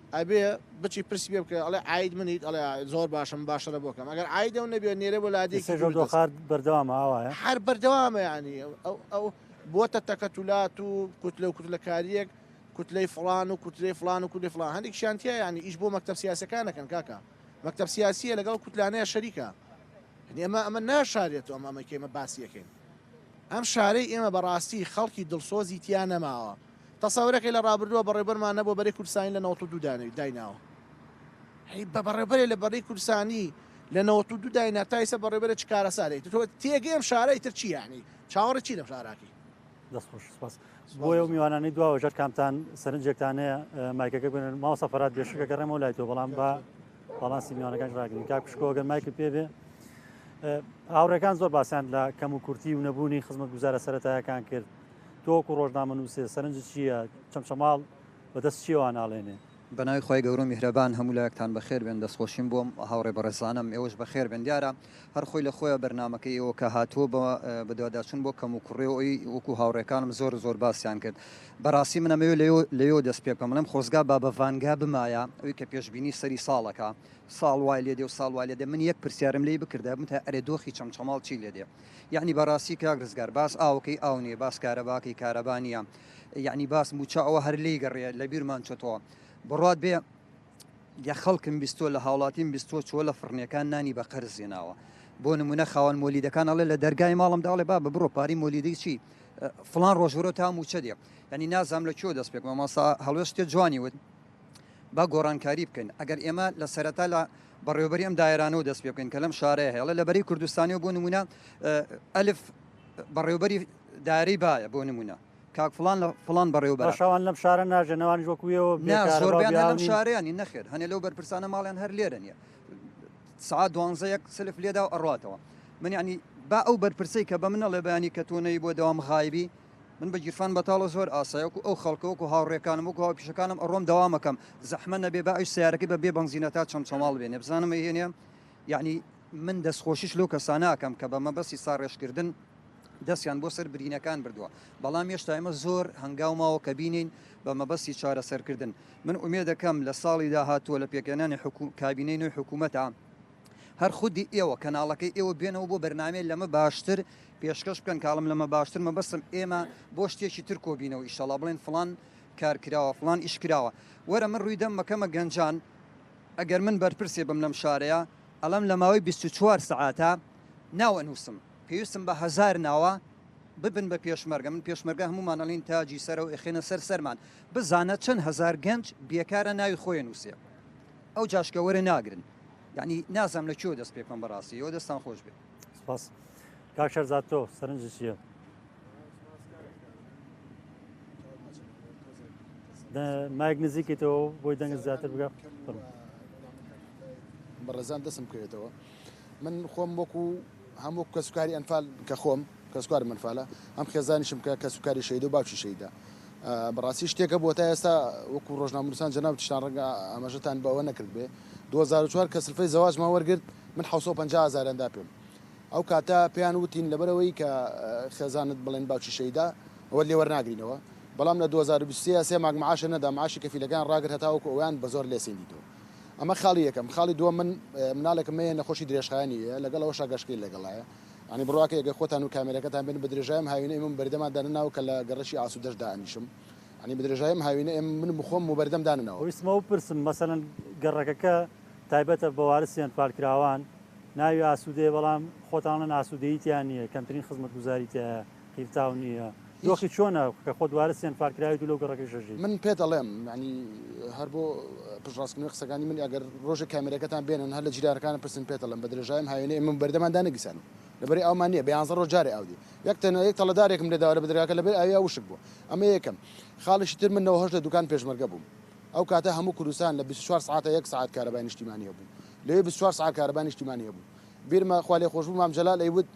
ئەبێ بچی پرسی پێ بکەی ئەڵێ عاید منیت ئەڵێ زۆر باشە من باشترە بۆ کەم ئەگەر عاید ئەو نەبێ نێرە بۆ لادێکی ئیسەش ئەو دوور دەست دۆخە بەردەوامە ئاوایە هەر بەردەوامە یانی ئەو ئەو ئەو بۆتە تەکەتولات و کوتلە و کوتلەکاریەک کوتلەی فڵان و کوتلەی فڵان و کولی فڵان هەندێک شانتیا یانی ئیش بۆ مەکتب سیاسەکانەکەن کاکە مەکتب سیاسیە لەگەڵ کوتلانەیە شەریکە یعنی ئەمە ئەمە ناشارێت و ئەمە ئەمەکەی ئمە باسیەکەین ئەم شارەی ئێمە بەڕاستی خەڵکی دڵسۆزی تیا نەماوە تەسەورەکەی لە ڕابردووە بەڕێوبەرمان نەبووە بەرەی کوردستانی لە نەوەت و دوو دایناوە هەی بە بەڕێوبەرێ لە بەڕی کوردستانی لە نەوەت و دوو داینا تا ئیسە بەڕێوبەرە چ کارەسارێک تۆ تێگەی ئەم شارەی تر چی یانی چاوەڕێ چی لەم شاراکی دەست خۆش سپاس بۆیە و میوانانی دواوە ژەر کامتان سەرنجێکتان هەیە مایکەکە بێن ماوە سەفرات بێشکە گەڕێمەوە لای تۆ بەڵام بە باڵانسی میوانەکان ڕاگرین کا پشکۆگە مایکل پێ بێ هاوڕێکان زۆر باسییان لە کەم و کورتی و نەبوونی خزمەت گوزارە سەتایەکان کرد تۆ وەکو ڕۆژنامەنوسێ سەرنجت چییە چەمچەماڵ بە دەست چییەوە ناڵێنێ؟ بەناوی خوای گەورەو میهرەبان هەموو لایەکتان بەخێر بێن دەستخۆشیم بۆ ئەم هاوڕێ بەڕێزانەم ئێوەش بەخێر بێن دیارە هەر خۆی لە خۆیە بەرنامەکەی ئێوە کە هاتووە بە بەدواداچون بۆ کەم و کوڕێو ئەوی وەکو هاوڕێکانم زۆر زۆر باسیان کرد بەڕاستی من ئەمەوێ لەوێ لەوێ دەست پێ بکەم بڵێم خۆزگا بابە ڤانگا بمایە ئەوی کە پێشبینی سەری ساڵەکە ساڵ وای لێدێ و ساڵ وای لێدێ من یەک پرسیارم لێی بکردایە بمتە ئەرێ دۆخی چەمچەماڵ چی لێدێ یەعنی بەڕاستی کاک ڕزگار باس ئاوەکەی ئاو نیە باس کارەباکەی کارەبا نیە یەعنی باس موچە ئەوە هەر لێی گەڕێ لە بیرمان چۆتەوە بڕات بێ یە خەڵکم بیستۆ لە هاوڵاتیم بیستۆ چۆ لە فڕنیەکان نانی بە قەرز زێناوە بۆ نمونە خاوەن مۆلیدەکان ئەڵێ لە دەرگای ماڵم داڵێ با بە بڕۆ پاری مۆلیدەی چی فلان ڕۆژورۆ تا موچە دێ ینی نازام لە کێۆ دەست پێک ماماسا هەڵوێشتێ جوانی وت با گۆڕانکاری بکەین ئەگەر ئێمە لە سەرەتا لە بەڕێوبەری ئەم دایرانەوە دەست پێ بکەین کە لەم شارەیە هێڵە لە بەری کوردستانیەوە بۆ نمونە ئەلف بەڕێوبەری دارەی باە بۆ نمونە کاک فلان لە فلان بەڕێوبەر شوان لەم شارە ناژێنەوانی وەکوێەوە لەم شارەیانی نەخێر هەنێ لەو بەرپرسانە ماڵیان هەر لێرە نیە سعات دوانزە یەک سلف لێدا و ئەڕاتەوە من ینی با ئەو بەرپرسی کە بە منەڵێ بەیانی کە تۆنەی بۆ دەوام غایبی من بە گیرفان بەتاڵە زۆر ئاسایە وەکو ئەو خەڵکە وەکو هاوڕێکانم وەکو هاوپیشەکانم ئەڕۆم دەوام ئەکەم زەحمەت نەبێ با ئەویش سەیارەکەی بە بێ بەنزینە تا چەمچەماڵ بێنێ بزانم ئەیهێنێ یەعنی من دەستخۆشیش لەو کەسانە ئەکەم کە بە مەبەستی ساڕێژکردن دەستیان بۆ سەر برینەکان بردووە بەڵام هێشتا ئێمە زۆر هەنگاو ماوە کە بینین بە مەبەستی چارەسەرکردن من ئومێدەکەم لە ساڵی داهاتووە لە پێکهێنانی حکو- کابینەی نوێی حکوومەتە هەر خودی ئێوە کەناڵەکەی ئێوە بێنەوە بۆ بەرنامەی لەمە باشتر پێشکەش بکەن کاڵم لەمە باشتر مەبەستم ئێمە بۆ شتێکی تر کۆبینەوە ئیشەڵا بڵێن فڵان کار کراوە فڵان ئیش کراوە وەرە من ڕووی دەم مەکەمە گەنجان ئەگەر من بەرپرسێ بم لەم شارەیە ئەڵم لە ماوەی 24 سعاتە ناوە نووسم پێویستم بە هزار ناوە ببن بە پێشمەرگە من پێشمەرگە هەمومان ئەڵین تاجی سەرەوە ئەخێنە سەر سەرمان بزانە چەند هزار گەنج بێکارە ناوی خۆی نووسێ ئەو جاشکە وەرە ناگرن. یانی نازام لە کوێوە دەست پێ بکەم بەڕاستی یۆ دەستان خۆش بێ. سپاس کاک شەرزاد تۆ سەرنج چیە؟ مایک نزیکیتەوە بۆی دەنگ زیاتر بگە بەڕێزان دەسم بکەوێتەوە من خۆم وەکو هەم وەکو کەسوکاری ئەنفال کە خۆم کەسوکارم ئەنفالە هەم خێزانیشم کە کەسوکاری شەید و باوکی شەیدا بەڕاستی شتێکە بۆ تا ئێستا وەکو ڕۆژنامونوسان جەناب تشتان ڕەنگە ئاماژەتان بەوە نەکرد بێ 2004 کە سلفەی زەواجمان وەرگرت من 1950 هزاراندا پێم ئەو کاتە پێیان وتین لەبەرەوەی کە خێزانت بڵێن باوکی شەیدا ئەوە لێوەرناگرینەوە بەڵام لە 2023 سێ ماگ معاشە نەدا معاشی کەفیلەکان ڕاگر هەتاوەکو ئەویان بە زۆر لێسێندیتەوە ئەمە خاڵی یەکەم خاڵی دووە من مناڵێکم مەیە نەخۆشی درێژخایانی یە لەگەڵ ئەوە شاگەشکەی لەگەڵایە ئەنی بڕواکە یەگە خۆتان و کامێرەکەتان بن بە درێژایم هاوینە ئێمە بەردەمان دانناو کە لە گەڕەکی ئاسو دەش دانیشم ئەنی بە درێژایم هاوینە ئێم من بخۆم و بەردەم داننەوە ویستمە بپرسم مەسەلەن گەڕەکەکە تایبەتە بە وارس یان پارکراوان ناوی ئاسودەیە بەڵام خۆتان ئەڵێن ئاسودەیی تیا نییە کەمترین خزمەتگوزاری تیایە قیرتاو نیە دۆخی چۆنە کە خۆ دوارە سێن فار کراویت و لەو گەڕەکەیش ئەژی. من پێت ئەڵێم یانی هەر بۆ پشتڕاستکردنەوەی قسەکانی من ئەگەر ڕۆژێک کامێرەکەتان بێنن هەر لە جیرانەکانم پرسن پێت ئەڵێم بە درێژایی ئەم هاوێنەی ئێمە بەردەمان دانەگیرسان و لەبەری ئاومان نیە بە یانزە ڕۆژ جارێ ئاو دێ یەک تەنیا یەک تەڵە دارێکم لێ داوە لە بەدرگاکە لەبەری ئاویا وشک بووە ئەمە یەکەم خاڵیشی تر من نەوە هەشت لە دووکان پێشمەرگە بووم ئەو کاتە هەموو کوردستان لە بیست و چوار سەعاتە یەک سەعات کارەبای نیشتیمانی هەبوو لەوێ بیست و چوار سەعات کارەبای نیشتیمانی هەبوو بیرمە خوا لێخۆشبوو مام جەلال ئەیوت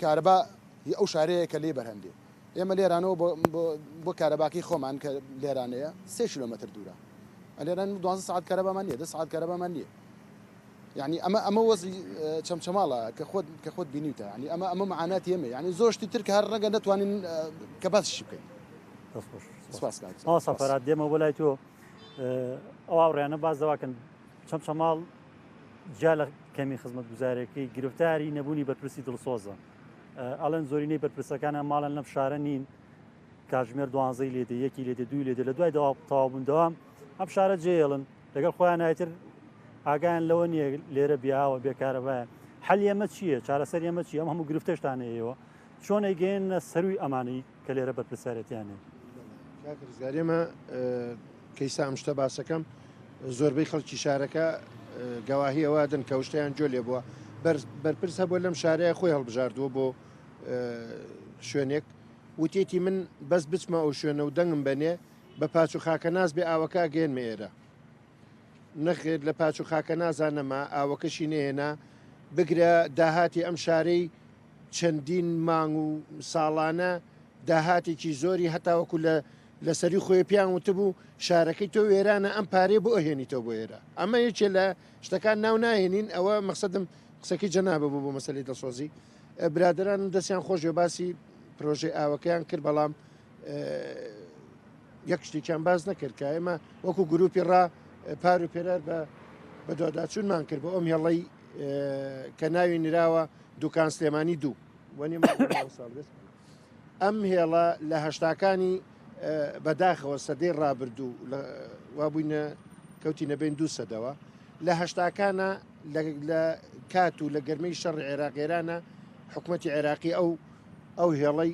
کارەبا ی ئەو شارەیە کە لێی بەرهەم دێ. ئێمە لێرانەوە بۆ بۆ کارەباکەی خۆمان کە لێرانەیە سێ کیلۆمەتر دوورە. لێرە دوازدە سەعات کارەبامان نییە، دە سەعات کارەبامان نییە. یعنی ئەمە ئەمە وەزی چەمچەماڵە کە خۆت کە خۆت بینیوتە ینی ئەمە ئەمە معاناتی ئێمە ینی زۆر شتی تر کە هەر ڕەنگە نەتوانین کە باسیشی بکەین دەست خۆش. سپاس کاک جەناب. مامۆستا فەرهاد دێمەوە بۆ لای تۆ ئەو هاوڕێیانە باس دەواکەن چەمچەماڵ جیا لە کەمی خزمەتگوزارەکەی گرفتاری نەبوونی بەرپرسی دڵسۆزە ئەڵێن زۆرینەی بەرپرسەکانیان ماڵن لەم شارە نین کاژمێر دوانزەی لێ دێ یەکی لێ دێ دوی لێ دێ لە دوای تەوابوون دەوام ئەم شارە جێڵن لەگەڵ خۆیان نایتر ئاگایان لەوە نییە لێرە بیاوە بێکارەبایە حل ئێمە چییە چارەسەر ئێمە چی ئەم هەموو گرفتەشتانەیەوە چۆن ئەیگەێنە سەروی ئەمانەی کە لێرە بەرپرسیارێتیان هەیە. کاک ڕزگار ئێمە کەیسا ئەم شتە باسەکەم زۆربەی خەڵکی شارەکە گەواهی ئەوە دەن کە شتیان جۆ لێ بووە بەرپرس هەبوو لەم شارەیە خۆی هەڵبژاردووە بۆ شوێنێک وتێتی من بەس بچمە ئەو شوێنە و دەنگم بەنێ بە پاچ و خاکە ناز بێ ئاوەکە گەێنمە ئێرە نەخێر لە پاچ و خاکە نازا نەما، ئاوەکەشی نەهێنا، بگرە داهاتی ئەم شارەی چەندین مانگ و ساڵانە داهاتێکی زۆری هەتاوەکو لە لە سەری خۆی پێیان وتبوو شارەکەی تۆ وێرانە ئەم پارەیە بۆ ئەهێنیتەوە بۆ ئێرە ئەمە یەکێ لە شتەکان ناو ناهێنین ئەوە مەقصدم قسەکەی جەنابە بوو بۆ مەسەلی دڵسۆزی برادرانم دەستیان خۆش بێ باسی پرۆژەی ئاوەکەیان کرد بەڵام یەک شتێکیان باز نەکرد کە ئێمە وەکو گروپی ڕا پار و پێرار بە بەدواداچوونمان کرد بە ئەم هێڵەی کە ناوی نراوە دوکان سلێمانی دوو وەنی ئەم هێڵە لە هەشتاکانی بەداخەوە سەدەی ڕابردوو وا بووینە کەوتی نەبین دوو سەدەوە لە هەشتاکانە لە کات و لە گەرمەی شەڕ عێراقێرانە حکوومەتتی عێراقی ئەو ئەو هێڵەی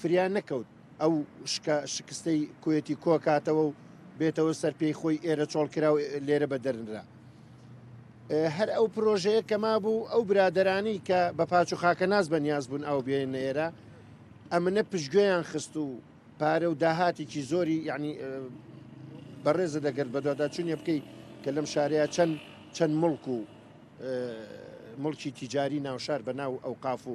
فریا نەکەوت ئەو شکە شکستەی کوێتی کۆ کاتەوە و بێتەوە سەر پێی خۆی ئێرە چۆڵ کرا و لێرە بە دەرنرا. هەر ئەو پرۆژەیە کە مابوو ئەو برادرانی کە بە پاچ و خاکەناس بە نیاز بوون ئەو بێنە ئێرە ئەمنە پشتگوێیان خست و پارە و داهاتێکی زۆری یعنی بەڕێزە دەگەرت بەدووادا چونیە بکەیت کە لەم شارەیە چەند چەند مڵک و مڵکی تیجاری ناوشار بە ناو ئەو قاف و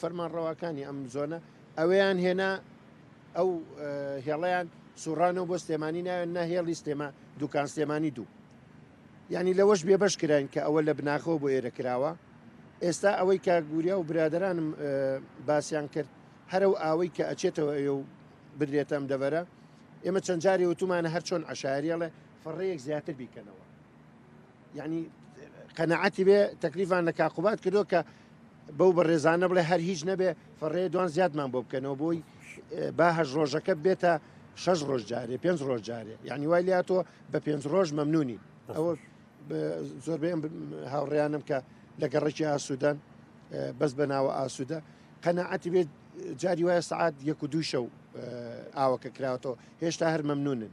فەرمانڕەواکانی ئەم زۆنە ئەوەیان هێنا ئەو هێڵیان سوڕانەوە بۆ سلێمانی ناوێن نە هێڵی سلێما دوکان سلێمانی دوو ینی لەوەش بێبش کراین کە ئەوە لە بناخەوە بۆ ئێرە کراوە ئێستا ئەوەی کە گوریا و برادرانم باسییان کرد هەرە و ئاوەی کە ئەچێتەوە ئەوێ و بدرێتەم دەبەرە ئێمە چەند جاری وتومانە هەر چۆن عشاریەڵێ فڕەیەک زیاتر بیکەنەوە یەعنی قەناعەتی بێ تەکلیفان لە کاک قوباد کردووە کە بەو بەڕێزانە بڵێ هەر هیچ نەبێ فەڕێ دوان زیادمان بۆ بکەنەوە بۆی با هەش ڕۆژەکە بێتە شەش ڕۆژ جارێ پێنج ڕۆژ جارێ یعنی وای لیا تۆ بە پێنج ڕۆژ مەمنونی ئەوە زۆربەی هاوڕیانم کە لە گەڕێکی ئاسوودەن بەس بە ناوە ئاسوودە قەنەعەتی بێت جاری وایە سعات یەک و دوو شەو ئاوەکە کراوەەوە هێشتا هەر مەمنونن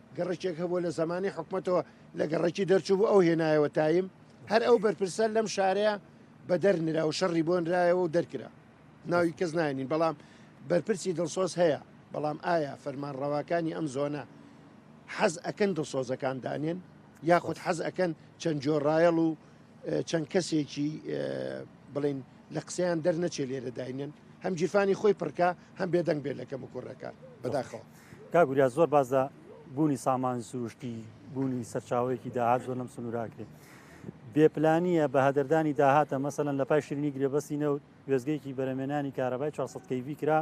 گەڕەکێک هەبووە لە زەمانی حکومەتەوە لە گەڕەکی دەرچوو بوو ئەو هێنایەوە تایم هەر ئەو بەرپرسە لەم شارەیە بە دەرنرا و شەڕی بۆنرایەوە و دەرکرا ناوی کەس ناینین بەڵام بەرپرسی دڵسۆز هەیە بەڵام ئایا فەرمان ڕەواکانی ئەم زۆنە حەز ئەکەن دڵسۆزەکان دانێن یاخود حەز ئەکەن چەند جۆڕایەڵ و چەند کەسێکی بڵین لە قسەیان دەرنەچێ لێرە داینێن هەم جیفانی خۆی پڕکە هەم بێدەنگ بێت لە کەم و کوڕەکان بەداخەوە کاک وریا زۆر باس لە بوونی سامانی سروشتی بوونی سەرچاوەیەکی داهات زۆر لەم سنووراکرێت بێپلانیە بە هەدەردانی داهاتە مەسەن لە پای شیرنی گرێبەستی نەوت وێزگەیەکی بەرەمێنانی کارەبای 400 کەیوی کرا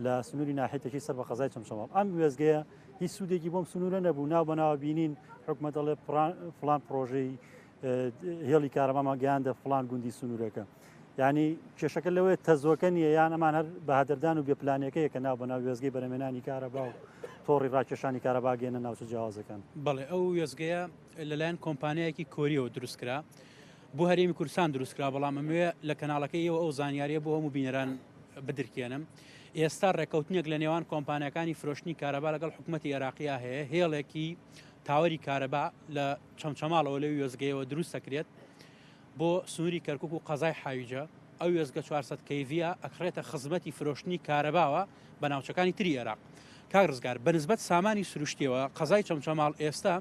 لە سنووری ناحێتەکەی سەر بە قەزای چەمچەماڵ ئەم وێزگەیە هیچ سوودێکی بۆم سنوورە نەبوو ناو بەناوە بینین حکومە دەڵێ فلان پرۆژەی هێڵی کارەبامان گەیاندە فلان گوندی سنوورەکە ینی کێشەکە لەوەیە تەزۆکە نیە یان ئەمان هەر بەهادەردان و بێپلانەکەیە کە ناو بەناو وێزگەی بەرەمێنانی کارەبا و تۆڕی ڕاکێشانی کارەباگەێنە ناوچە جیاوازەکان بڵێ ئەو وێزگەیە لەلایەن کۆمپانیایەکی کۆریەوە دروستکرا بۆ هەرێمی کوردستان دروستکرا بەڵام ئەموێ لە کەناڵەکە ئەو ئەو زانیاریە بۆ هەموو بینەران بدرکێنم ئێستا ڕێککەوتنێک لە نێوان کۆمپانیەکانی فرۆشتنی کارەبا لەگەڵ حکوومەتتی عێراقیە هەیە هێڵێکی تاوەری کارەبا لە چەمچەماڵەوە لەو وێزگەیەوە دروست دەکرێت بۆ سنووری کەرکک و قەزای حاویجە ئەو وێزگە 400 کەیڤە ئەکڕێتە خزمەتی فرۆشتنی کارەباوە بە ناوچەکانی تری عێراق کاک ڕزگار بەنسبەت سامانی سروشتیەوە قەزای چەمچەماڵ ئێستا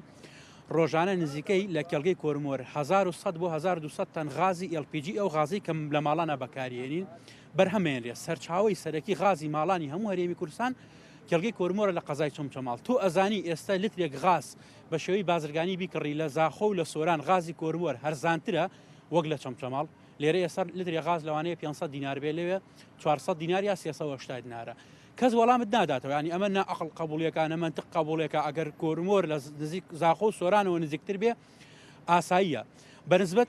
ڕۆژانە نزیکەی لە کێڵگەی کۆرمۆر 1900 بۆ 1200 تەن غازی LPG ئەو غازی کەم لە ماڵانە بەکارێنین بەرهەمێن لێ سەرچاوی سەرەکی غازی ماڵانی هەموو هەرێمی کوردستان کێڵگەی کۆرمۆرە لە قەزای چەمچەماڵ تۆ ئەزانی ئێستا لترێک غاز بە شێوەی بازرگانی بیکڕی لە زاخۆ و لە سۆران غازی کۆروەر هەرزانترە وەک لە چەمچەماڵ، لێرە ئێستا لترێ غاز لەوانەیە پێنج سەد دینار بێ لەوێ چوار سەد دینار یا سێ سەد و هەشتا دینارە. کەس وەڵامت ناداتەوە یانی ئەمە نا ئەقڵ قەبوڵیەکە نە مەنتق قەبوڵێکە ئەگەر کۆرمۆر لە نزیک زاخۆ و سۆرانەوە نزیکتر بێ ئاساییە بەنسبەت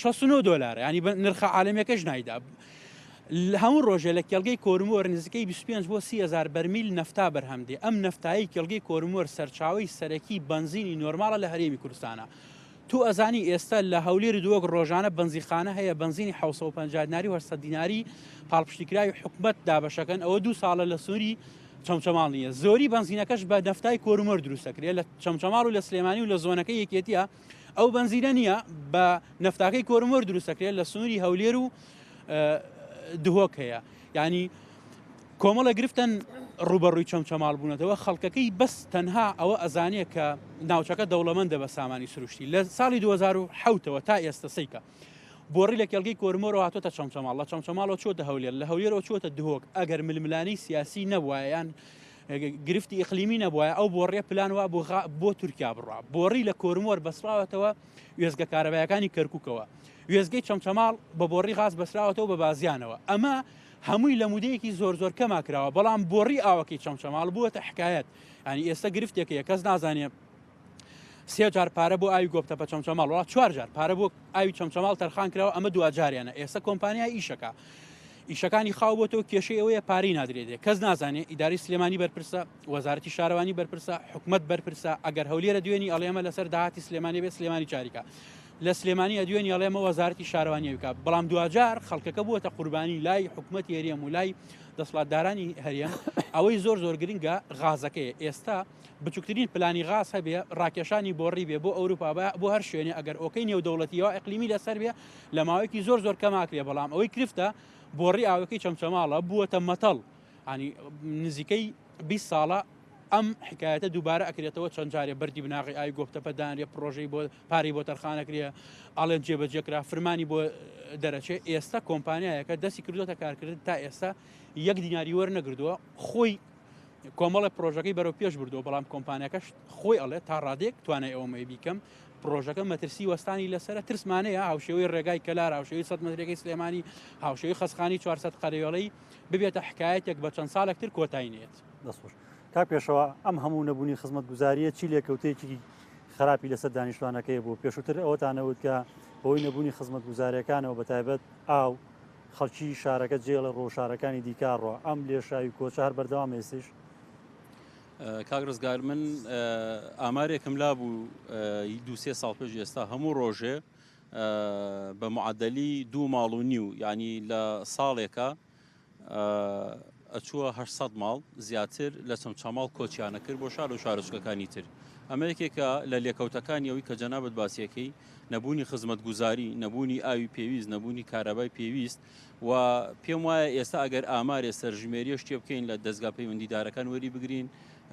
شەست و نۆ دۆلارە یعنی بە نرخە عالەمیەکەش نایدا هەموو ڕۆژێ لە کێڵگەی کۆرمۆر نزیکەی 25 بۆ 300 بەرمیل نەفتا بەرهەمدێ ئەم نەفتایی کێڵگەی کۆرمۆر سەرچاوی سەرەکی بنزینی نۆرماڵە لە هەرێمی کوردستانە تو ئەزانی ئێستا لە هەولێر دووەک ڕۆژانە بنزیخانە هەیە بنزینی 1950 دیناری و 800 دیناری پاڵپشتیکراوی حکومت دابەشەکەن ئەوە دوو ساڵە لە سووری چەمچەماڵ نیە زۆری بنزینەکەش بە دەفتای کۆرمۆر دروستەکرێت لە چەمچەماڵ و لە سلێمانی و لە زۆنەکە یەکێتیە ئەو بەنزینە نییە بە نفتاکەی کۆرمۆر دروستەکرێت لە سنووری هەولێر و دهۆک هەیە ینی کۆمەڵە گرفتن ڕوبەڕووی چەمچەماڵ بوونەتەوە خەڵکەکەی بەس تەنها ئەوە ئەزانە کە ناوچەکە دەوڵەمەندە بە سامانی سروشتی لە ساڵی 2010ەوە تا ئێستا سیکە بۆڕی لە کێڵگەی کۆرمۆرە هاتۆتە چەمچەماڵ لە چەمچەماڵەوە چۆتە هەولێر لە هەولێرەوە چۆتە دهۆک ئەگەر ململانی سیاسی نەبووایان گرفتی ئیقلیمی نەبوایە ئەو بۆڕیە پلان وا بۆ بۆ تورکیا بڕا بۆڕی لە کۆرمۆر بەسراوەتەوە وێزگە کارەبایەکانی کەرککەوە وێزگەی چەمچەماڵ بە بۆڕی غاز بەسراوەتەوە بە بازیانەوە ئەمە هەمووی لە مودەیەکی زۆر زۆر کەما کراوە بەڵام بۆڕی ئاوەکەی چەمچەماڵ بووە تە حکایەت ینی ئێستا گرفتێکەیە کەس نازانێ سێ جار پارە بۆ ئاوی گۆپتەپە چەمچەماڵ وڵات چوار جار پارە بۆ ئاوی چەمچەماڵ تەرخان کراوە ئەمە دواجاریانە ئێستا کۆمپانیا ئیشەکە ئیشەکانی خاو بۆتەوە کێشەی ئەوەیە پارەی نادرێتێ کەس نازانێ ئیداری سلێمانی بەرپرسە وەزارەتی شارەوانی بەرپرسە حکومت بەرپرسە ئەگەر هەولێرە دوێنی ئەڵێمە لەسەر داهاتی سلێمانی بێ سلێمانی چاریکە لە سلێمانی ئەدوێنی ئەڵێمە وەزارەتی شارەوانیەویکە بەڵام دواجار خەڵکەکە بووەتە قوربانی لای حکومت هێریەم و لای دەسڵاتدارانی هەریە ئەوەی زۆر زۆر گرنگە غازەکەی ئێستا بچوکترین پلانی غاز هەبێ ڕاکێشانی بۆڕی بێ بۆ ئەوروپا بۆ هەر شوێنێ ئەگەر ئۆکەی نێودەوڵەتی یا ئەقلیمی لەسەر بێ لە ماوەیەکی زۆر زۆر کەماکرێ بەڵام ئەوەی کرفتە بۆڕی ئاوەکەی چەمچەماڵە بووەتە مەتەڵ ئانی نزیکەی 20 ساڵە ئەم حکایەتە دووبارە ئەکرێتەوە چەند جارێ بەری بناغی ئای گۆپتەپە دانرێ پرۆژەی بۆ پارەی بۆ تەرخانەکرێ ئاڵێن جێبەجێکرا فرمانی بۆ دەرەچێ ئێستا کۆمپانیایەکە دەستی کردوێتە کارکردن تا ئێستا یەک دیناری وەرنەگردووە خۆی کۆمەڵە پرۆژەکەی بەرەو پێش بردو بەڵام کۆمپانیەکەش خۆی ئەڵێ تا ڕادێک توانای ئەومەی بیکەم پرۆژەکە مەترسی وەستانی لەسەر ترسمانەیە هاوشێوەی ڕێگای کەلار هاوشێوی سە مەترەکەی سلێمانی هاوشێوی خەسخانی 400 قەرێڵەی ببێتە حکایەتێک بە چەند ساڵێک تر کۆتاینێت دەسوش تا پێشەوە ئەم هەموو نەبوونی خزمەت گوزاریە چی لێکەوتێکی خراپی لەسەر دانیشتوانەکەی بوو پێشووتر ئەوەتانەوت کە بۆی نەبوونی خزمەت گوزارەکانەوە بە تایبەت ئاو خەڵکی شارەکە جێڵە ڕۆژارەکانی دیکارڕە ئەم لێشاوی کۆچە هەر بەردەوام ئێستش کاک ڕزگار من ئامارێکم لا بوو دوسێ ساڵ پێش ئێستا هەموو ڕۆژێ بە معدلی دوو ماڵ و نیو ینی لە ساڵێکە ئەچووە 600 ماڵ زیاتر لە چەم چاماڵ کۆچیانە کرد بۆ شار و شارۆچکەکانی تر ئەمە یەکێکە لە لێکەوتەکانی ئەوی کە جەنابەت باسیەکەی نەبوونی خزمەتگوزاری، نەبوونی ئاوی پێویست، نەبوونی کارابای پێویست و پێم وایە ئێستا ئەگەر ئامارێ سەرژمێریش تێ بکەین لە دەزگا پەیوەندیدارەکان وەری بگرین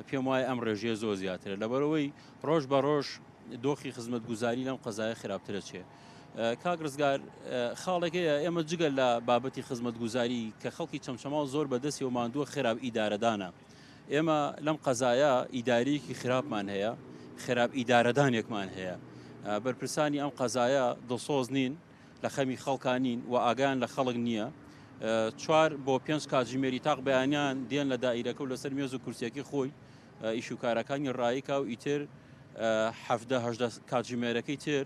پێم وایە ئەم ڕێژەیە زۆر زیاترە لەبەرەوەی ڕۆژ بە ڕۆژ دۆخی خزمەتگوزاری لەم قەزایە خراپترە چێ. کاک ڕزگار خاڵێکەیە ئێمە جگە لە بابەتی خزمەتگوزاری کە خەڵکی چەمچەماڵ زۆر بەدەستی و ماندووە خێراب ئیدارەدانە ئێمە لەم قەزایە ئیداریەکی خراپمان هەیە خراپ ئیدارەدانێکمان هەیە بەرپرسانی ئەم قەزایە دڵسۆز نین لە خەمی خەڵکانین و ئاگان لە خەڵک نییە چوار بۆ پێنج کاتژمێری تاق بەیانیان دێن لە دایرەکە و لەسەر مێز و کورسیەکی خۆی ئیشوکارەکانی ڕایکا و ئیتر هەهدە کاتژمێرەکەی تر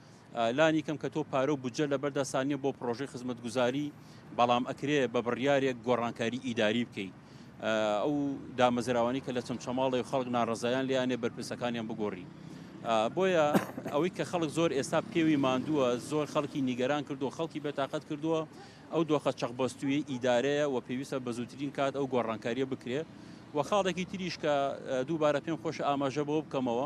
لانی کەم کە تۆ پارە و بودجە لەبەر دەستان نیە بۆ پڕۆژەی خزمەتگوزاری بەڵام ئەکرێ بە بڕیارێک گۆڕانکاری ئیداری بکەی ئەو دامەزراوانی کە لە چەمچەماڵی خەڵک ناڕزایان لیانێ بەرپرسەکانیان بگۆڕی بۆیە ئەوەی کە خەڵک زۆر ئێستا پێوی ماندووە زۆر خەڵکی نیگەران کردو خەڵکی بێتاقەت کردووە ئەو دۆخە چەقبەستوی ئیدارەیە و پێویستە بە زووترین کات ئەو گۆڕانکاریە بکرێت و خاڵێکی تریش کە دووبارە پێم خۆش ئاماژە بۆ بکەمەوە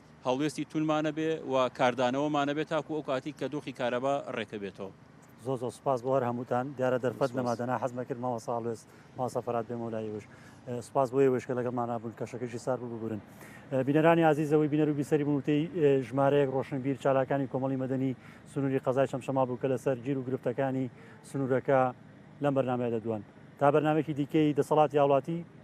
هەڵوێستی توندمان نەبێ و کاردانەوەمان نەبێ تاکو ئەو کاتی کە دۆخی کارەبا ڕێکە بێتەوە. زۆر زۆر سوپاس بۆ هەر هەمووتان دیارە دەرفەت نەما دەنا حەز نەکرد مامۆسا هەڵوێست مامۆسا فەرات بێمەوە لای ئێوەش سوپاس بۆ ئێوەش کە لەگەڵمانا بوون کەشەکەشی سار بوو ببورن بینەرانی ئازیزەوەی بینەر و بیسەری بوون وتەی ژمارەیەک ڕۆشنبیر چالاکانی کۆمەڵی مەدەنی سنووری قەزای چەمچەما بوو کە لەسەر گیر و گرفتەکانی سنوورەکە لەم بەرنمەیە دەدوان تا بەرنمێکی دیکەی دەسەڵاتی هاوڵاتی